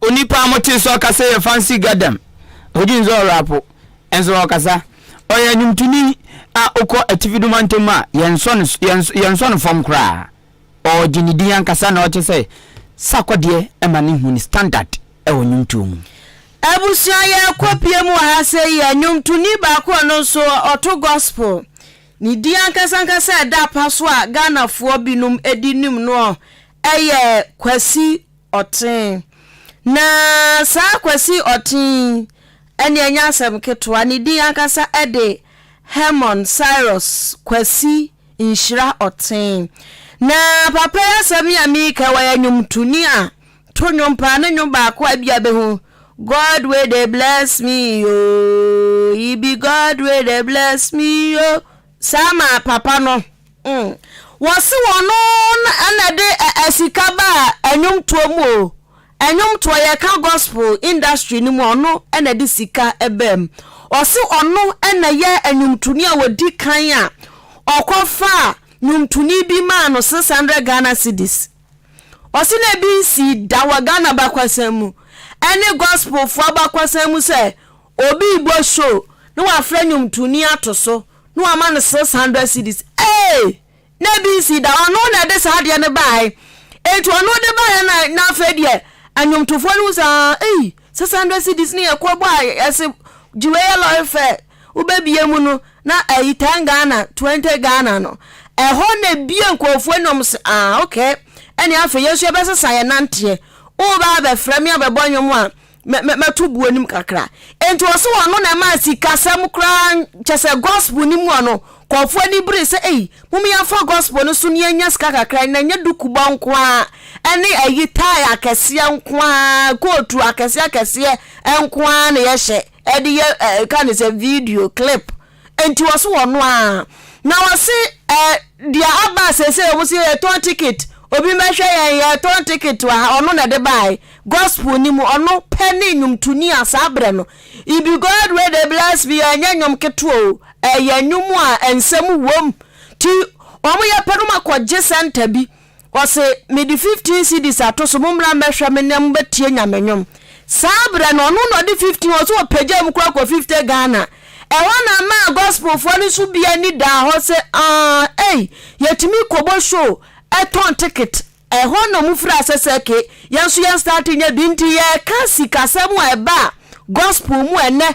Onipa a motee sɛ ɔkasa yɛ Fancy Gadam. Ogye nso ɔyɛ rapo, nso ɔkasa. Ɔyɛ nnwomtoni a okɔ atifi no mantam a yɛnsɔ no yɛnsɔ yɛnsɔ no fam koraa. Ɔgye ne din ankasa na ɔkyɛ sɛ Sarkodie ma ne hu ne standard wɔ nnwomtoɔ mu. Abusua yɛrekɔ pie mu wɔ ha sɛyi yɛ nnwomtoni baako a ɔno nso ɔto gospel. Ne din ankasa ankasa a ɛda apa so a Ghanafoɔ binom di nim noɔ yɛ Kwasi Ɔtee. Na saa Kwasi Ɔtee yi, ɛnde ɛnyɛ asɛm ketewa, ne din ankasa de Hermon Cyrus Kwasi Nhyira Ɔtee. Na papa yi asɛm yi a mereka yi, ɔyɛ nnwomtoni a to nnwom paa. Ne nnwom baako a ebia bɛhu, God wey dey bless me oo, He be God wey dey bless me oo. Saa maa papa no mm wɔse wɔno na ɛde asika baa ɛnwomtoɔ mu o ɛnwomtoɔ yɛka gospel industry no mu ɔno na ɛde sika ɛbaa mu ɔse ɔno na yɛ ɛnwomtoni a wɔdi kan a ɔkɔ faa nwomtoni bi maa no 600 Ghana cedis ɔse na ebi nsii da wɔ Ghana bakwasan mu ɛne gospelfoɔ abakwasan mu sɛ Obi rebɔ show na wafrɛ nnwomtoni ato so na wama no six hundred cedis ee! na ebi nsi da, ɔno na ɛde saa adeɛ no baeɛ enti ɔno de baeɛ na na afei deɛ nnwomtofoɔ no hu sɛ ah ei six hundred cedis no yɛ kɔbɔ a yɛse gye wei yɛ lɔre fɛ wobɛbie mu no na ayi ten Ghana twenty Ghana no ɛhɔ na ebie nkurɔfoɔ ani wɔn se ah okay ɛne afei yɛn nso yɛbɛsesa yɛn nanteɛ wobaa bɛfrɛ me abɛbɔ nnwom a mɛto buo anim kakra nti wɔ so wɔn ano na ɛmaa sikasɛm koraa kyɛ sɛ gospel no mu a no kɔɔfoɔ ani bere sɛ ei mom yɛmfa gospel no so ne yɛnya sika kakra na ɛnyɛ dukubɔ nko ara ɛne ayi tae akɛseɛ nko ara kootu akɛseɛ akɛseɛ nko ara na yɛhyɛ ɛde yɛ ɛka ne sɛ video clip nti ɔse wɔno a na ɔse eh, deɛ aba sese ɔmo se yɛtɔn ticket obi mɛhwɛ yɛn yɛtɔn ticket wɔ ha ɔno na ɛde baae gospel ni mu ɔno pɛ ne nnwomtoni a saa berɛ no ibi god wey de bless me ɛnyɛ nnwom ketewa o ɛyɛ nnwom a nsɛm wom ti ɔmo yɛ pɛ no ma kɔgye sɛnta bi Ɔse, Mede fifteen cedis ato so, mommra mmɛhwɛ me na mobɛtie Nyame nnwom. Saa berɛ no, ɔno na ɔde fifteen, ɔse ɔpagyaa mu koraa kɔ fifty Ghana. Ɛhɔ na ɛmaa Gospelfoɔ no nso bi ani daa hɔ se, Aah, ei, yɛtumi kɔbɔ show, tɔn ticket. Ɛhɔ na wɔfiri aseɛ se, Ok, yɛn nso yɛn starte nyɛ bi. Nti yɛreka sikasɛm a ɛbaa Gospel mu ɛnnɛ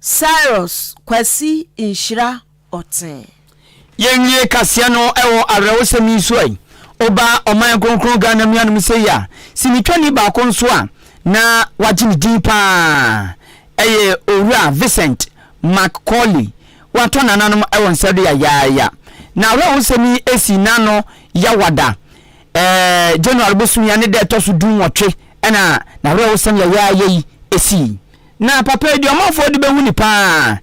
Cyrus Kwasi Nhyira Ɔtee. Yɛnwie kaseɛ no wɔ awerɛhosɛm yi so a, woba ɔman kronkron Ghana mu hanom sei a, sinitwani baako nso a na wagye ne din pa ara yɛ Owura Vincent Macaulay. Watɔ nananom wɔ nsa do yayaaya. N'awerɛhosɛm yi sii n'ano yawada ɛɛ January bosom yi a ne da a ɛtɔ so du nwɔtwe na n'awerɛhosɛm yayaaya yi sii. Na papa yi deɛ ɔmanfoɔ de bɛhu no paa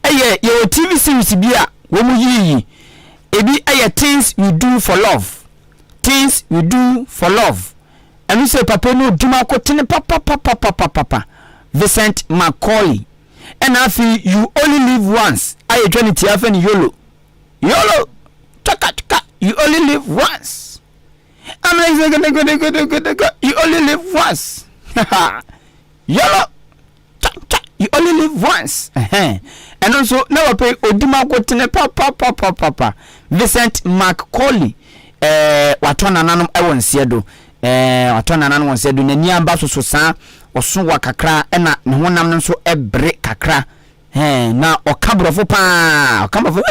yɛ yɛwɔ TV series bi a wɔn yii yi ebi yɛ things we do for love things we do for love ɛno sɛ papa yi no ɔdum akotene papapapapapapa Vincent Macaulay ɛna afei you only live once a yɛtwa ne tia fɛ ne yolo yolo twakatwka you only live once I'm like, you only live once Yellow cha cha you only live once ɛhɛn ɛno nso na wɔpɛ odi mankotene papapapapapa Vincent Macaulay ɛɛ watɔ nananom ɛwɔ nseɛ do ɛɛ watɔ nananom wɔ nseɛ do n'ani aba soso saa ɔso wa kakra ɛna ne honam no nso ɛbre kakra Ɛɛ, na ɔka Borɔfo paa. Ɔka Borɔfo.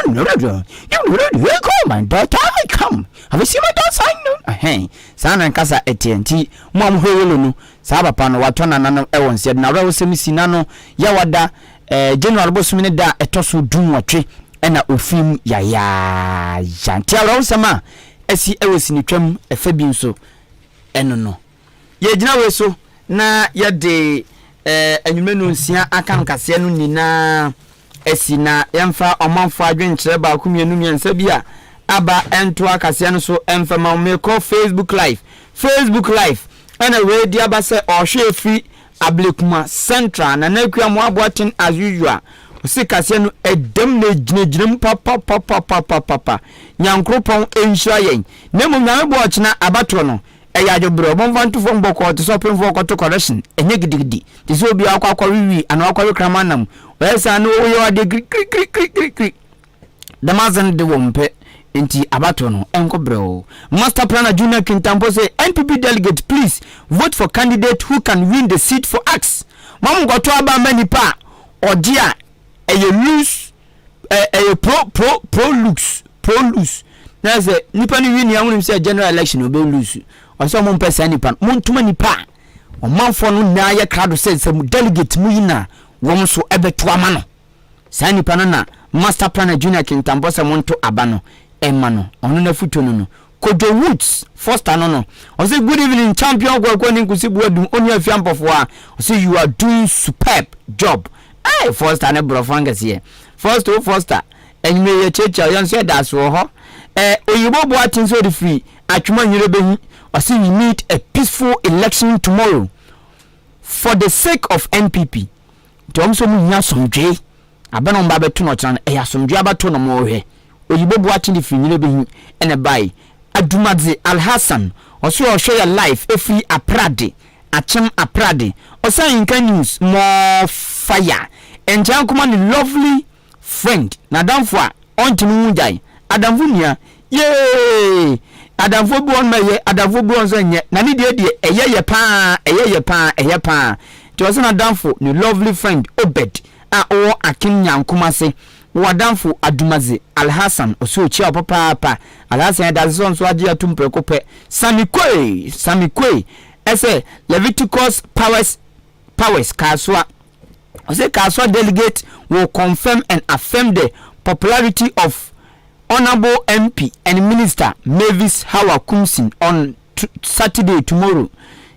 My daughter I come. Have you seen my daughter? I know. Ɛhɛn. Saa na nkasa ɛteɛ. Nti, mo a mohwɛ Yolo no, saa papa no, watɔ nananom wɔ nsa. Yɛde n'awerɛhosɛm si n'ano. Yawada, ɛɛ, January bosome ne da a ɛtɔ so dunwɔtwe na ofii mu yayaaya. Nti awerɛhosɛm a asi wɔ sinitwam fa bi nso, ɛno no. Yɛgyina wei so na yɛde anwummerɛ no nsia aka no kaseɛ no nyinaa asi na yɛmfa ɔmanfoɔ adwenkyerɛ baako mmienu mmiɛnsa bi a aba ntoa kaseɛ no so mfa ma mekɔ facebook live facebook live ɛna wei di aba sɛ ɔhwɛ ɛfiri ablekuma central na na akua mo aboa ten as usual ɔsi kaseɛ no ɛdam na ɛgyinagyina mu papapapapapapa nyankoropɔn nhyira yɛn na mmom nyame boɔ ɔkyena abatoɔ no Ɛyɛ adwebrɛ, ɔbɔnfwa nto fam bɔkɔɔ te sɛ ɔpemfoɔ rekɔto kɔrɛhyen, ɛnyɛ gidigidi, te sɛ obi a wakɔ akɔwe wii anaa wakɔwe kraman nam, ɔyɛ saa na ɔyɛ wo adeɛ kirikirikirikiri. Dɛm adze no de wɔmmpɛ, ntsi abatow no, ɛnkɔ brɛoo. Master planner Junior Kintampo say NPP delegate please vote for candidate who can win the seat for us, mma mo nkɔto aba mma nipa a ɔgye a ɛyɛ loose, ɛ ɛyɛ pro pro pro looks pro lose na sɛ nipa no wini ahonim sɛ general election ɔbɛ lose ɔsɛ ɔmo mpɛ saa nipa no mo ntoma nipa a ɔmanfoɔ no nyinaa yɛ krado sɛ sɛ mo delegate mo yi na wɔn nso ɛbɛto ama no saa nipa no na master planner junior kintampɔ sɛ mo nto aba no ɛma no ɔno na futuo no no Kojo Woods Foster no no, ɔse good evening champion Kwaku ne Nkusi Boadum onua afia mpɔfoa, ɔse you are doing superb job eii Foster ne brɔfo ankɛseɛ Foster o Foster anwummerɛ yi yɛkyiakyia wo yɛn nso yɛda ase wɔ hɔ eh Oyibo Boaten sɛ ɔde firi Atwima Nwire bɛhi ɔse we need a peaceful election tomorrow for the sake of NPP Nti ɔmo sɛ ɔmo hia asomdwee aba na ɔmo ba bɛto no ɔkyena no ɛyɛ asomdwee aba to na ɔmo ɔhwɛ oyibo boakye de firi nyina bɛhi ɛna ɛbae Adumadze Alhassan ɔse ɔhwɛ yɛ live ɛfiri aprade akyem aprade ɔsan nka news more fire ɛnkyɛ ankoma ne lovely Friend, N'adamfo a ɔnntene ho gyae. Adamfo nua, Yeeeeee! Adamfoɔ bi wɔ hɔ nom a ɛyɛ, adamfoɔ bi wɔ hɔ nso a ɛnyɛ. Na ne deɛ deɛ, ɛyɛ yɛ pa ara, ɛyɛ yɛ pa ara, ɛyɛ pa ara. Nti ɔse n'adamfo, ne lovely friend, Obed, a ɔwɔ Aken Nyankom ase, wɔ adamfo, Adumadze Alhassan, ɔse ɔkyia wo papaapa. Alhassan yɛda ase sɛ ɔnso agye atom prɛko pɛ. Sami Quay, Sami Quay, ɛsɛ Leviticus Powers, Powers, Kasoa, Ɔse Kasoa delegates will confirm and affirm the popularity of Honourable MP and Minister Mavis Hawa Koomson on Saturday, tomorrow.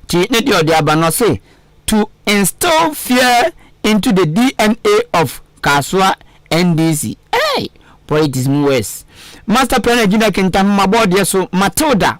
Nti ne deɛ ɔde aba no ɔse to instill fear into the DNA of Kasoa NDC. Hey! Politics mu worse. Master Plan Agyina Kintampo Mabɔ Ɔdeɛ So Matilda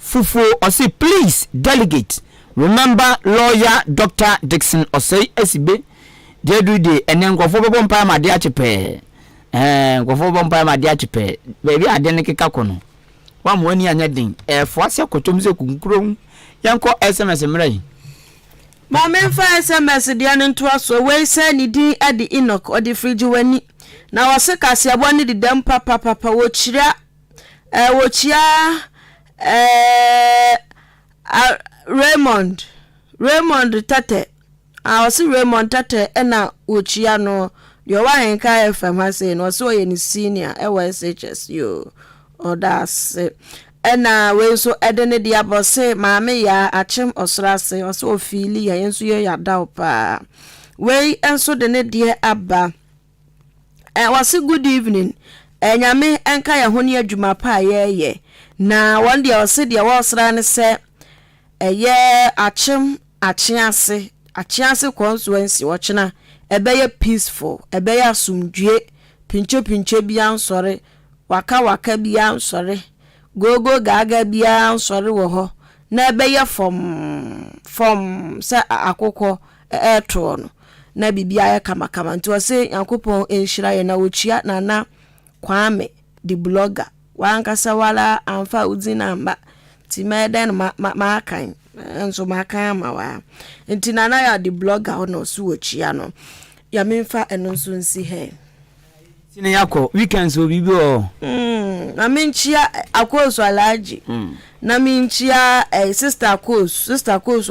Fufuo ɔse please delegate remember lawyer Doctor Dickson Osei Asibe deɛ aduru deɛ ɛnɛ nkurɔfoɔ bɛbɔ mpaeɛ ma adeɛ akye pɛɛ ɛɛ nkurɔfoɔ bɛbɔ mpaeɛ ma adeɛ akye pɛɛ baabi a adeɛ no keka kɔ no wɔn wɔn ani anyɛ den ɛɛfoa sɛ kɔtɔm sɛ kunkuro ho yɛn kɔ sms mmerɛ yi. Maame nfa sms deɛ no ntoa soɔ wei sɛ ne din ɛde Enoch ɔde firi gye w'ani na ɔse kaseɛbɔ no di dɛm papapapa wɔkyira. Eh, wokyia eh, ah, Raymond, Raymond Tɛtɛ. Ah, ɔse Raymond Tɛtɛ ɛna wokyia no. Deɛ ɔwɔ Ahenka FM ha sei no, ɔse ɔyɛ ne senior ɛwɔ SHS yoo. Ɔda ase. Ɛna wei nso ɛde ne deɛ abɔ se maame yaa akyem ɔsoro ase. Ɔse ofiili ya, yɛn nso yɛyɛ adaw paa. Wei nso de ne deɛ aba. Ɛɛ wɔse good evening ɛɛ nyame ɛnka yɛn ho ne adwuma pa a yɛɛyɛ na wɔn deɛ wɔse deɛ wɔɔsra ne sɛ ɛyɛ akyem akyease akyease constituency wɔkyena ɛbɛyɛ peaceful ɛbɛyɛ asomdwie pinkye pinkye bia nsɔre waka waka bia nsɔre gogo gaaga bia nsɔre wɔ hɔ na ɛbɛyɛ fɔmm fɔmm sɛ akokɔ ɛtoɔ no na biribiara yɛ kamakama nti ɔse Nyankopɔn nhyira yɛn na ɔkyia Nana Kwame the blogger wankasa wara amfa wo dzin amma nti mɛyɛ dɛn ma ma makan nso makan ama wo ara nti Nana ya the blogger hɔ na ɔse wɔkyia no ya memfa ɛno nso nsi hɛn Nti ne yakɔ weekends wɔ biribi wɔ hɔ. Mm, na menkyia akoosu alagye. Mm. Na menkyia eh, sister akoosu, sister akoosu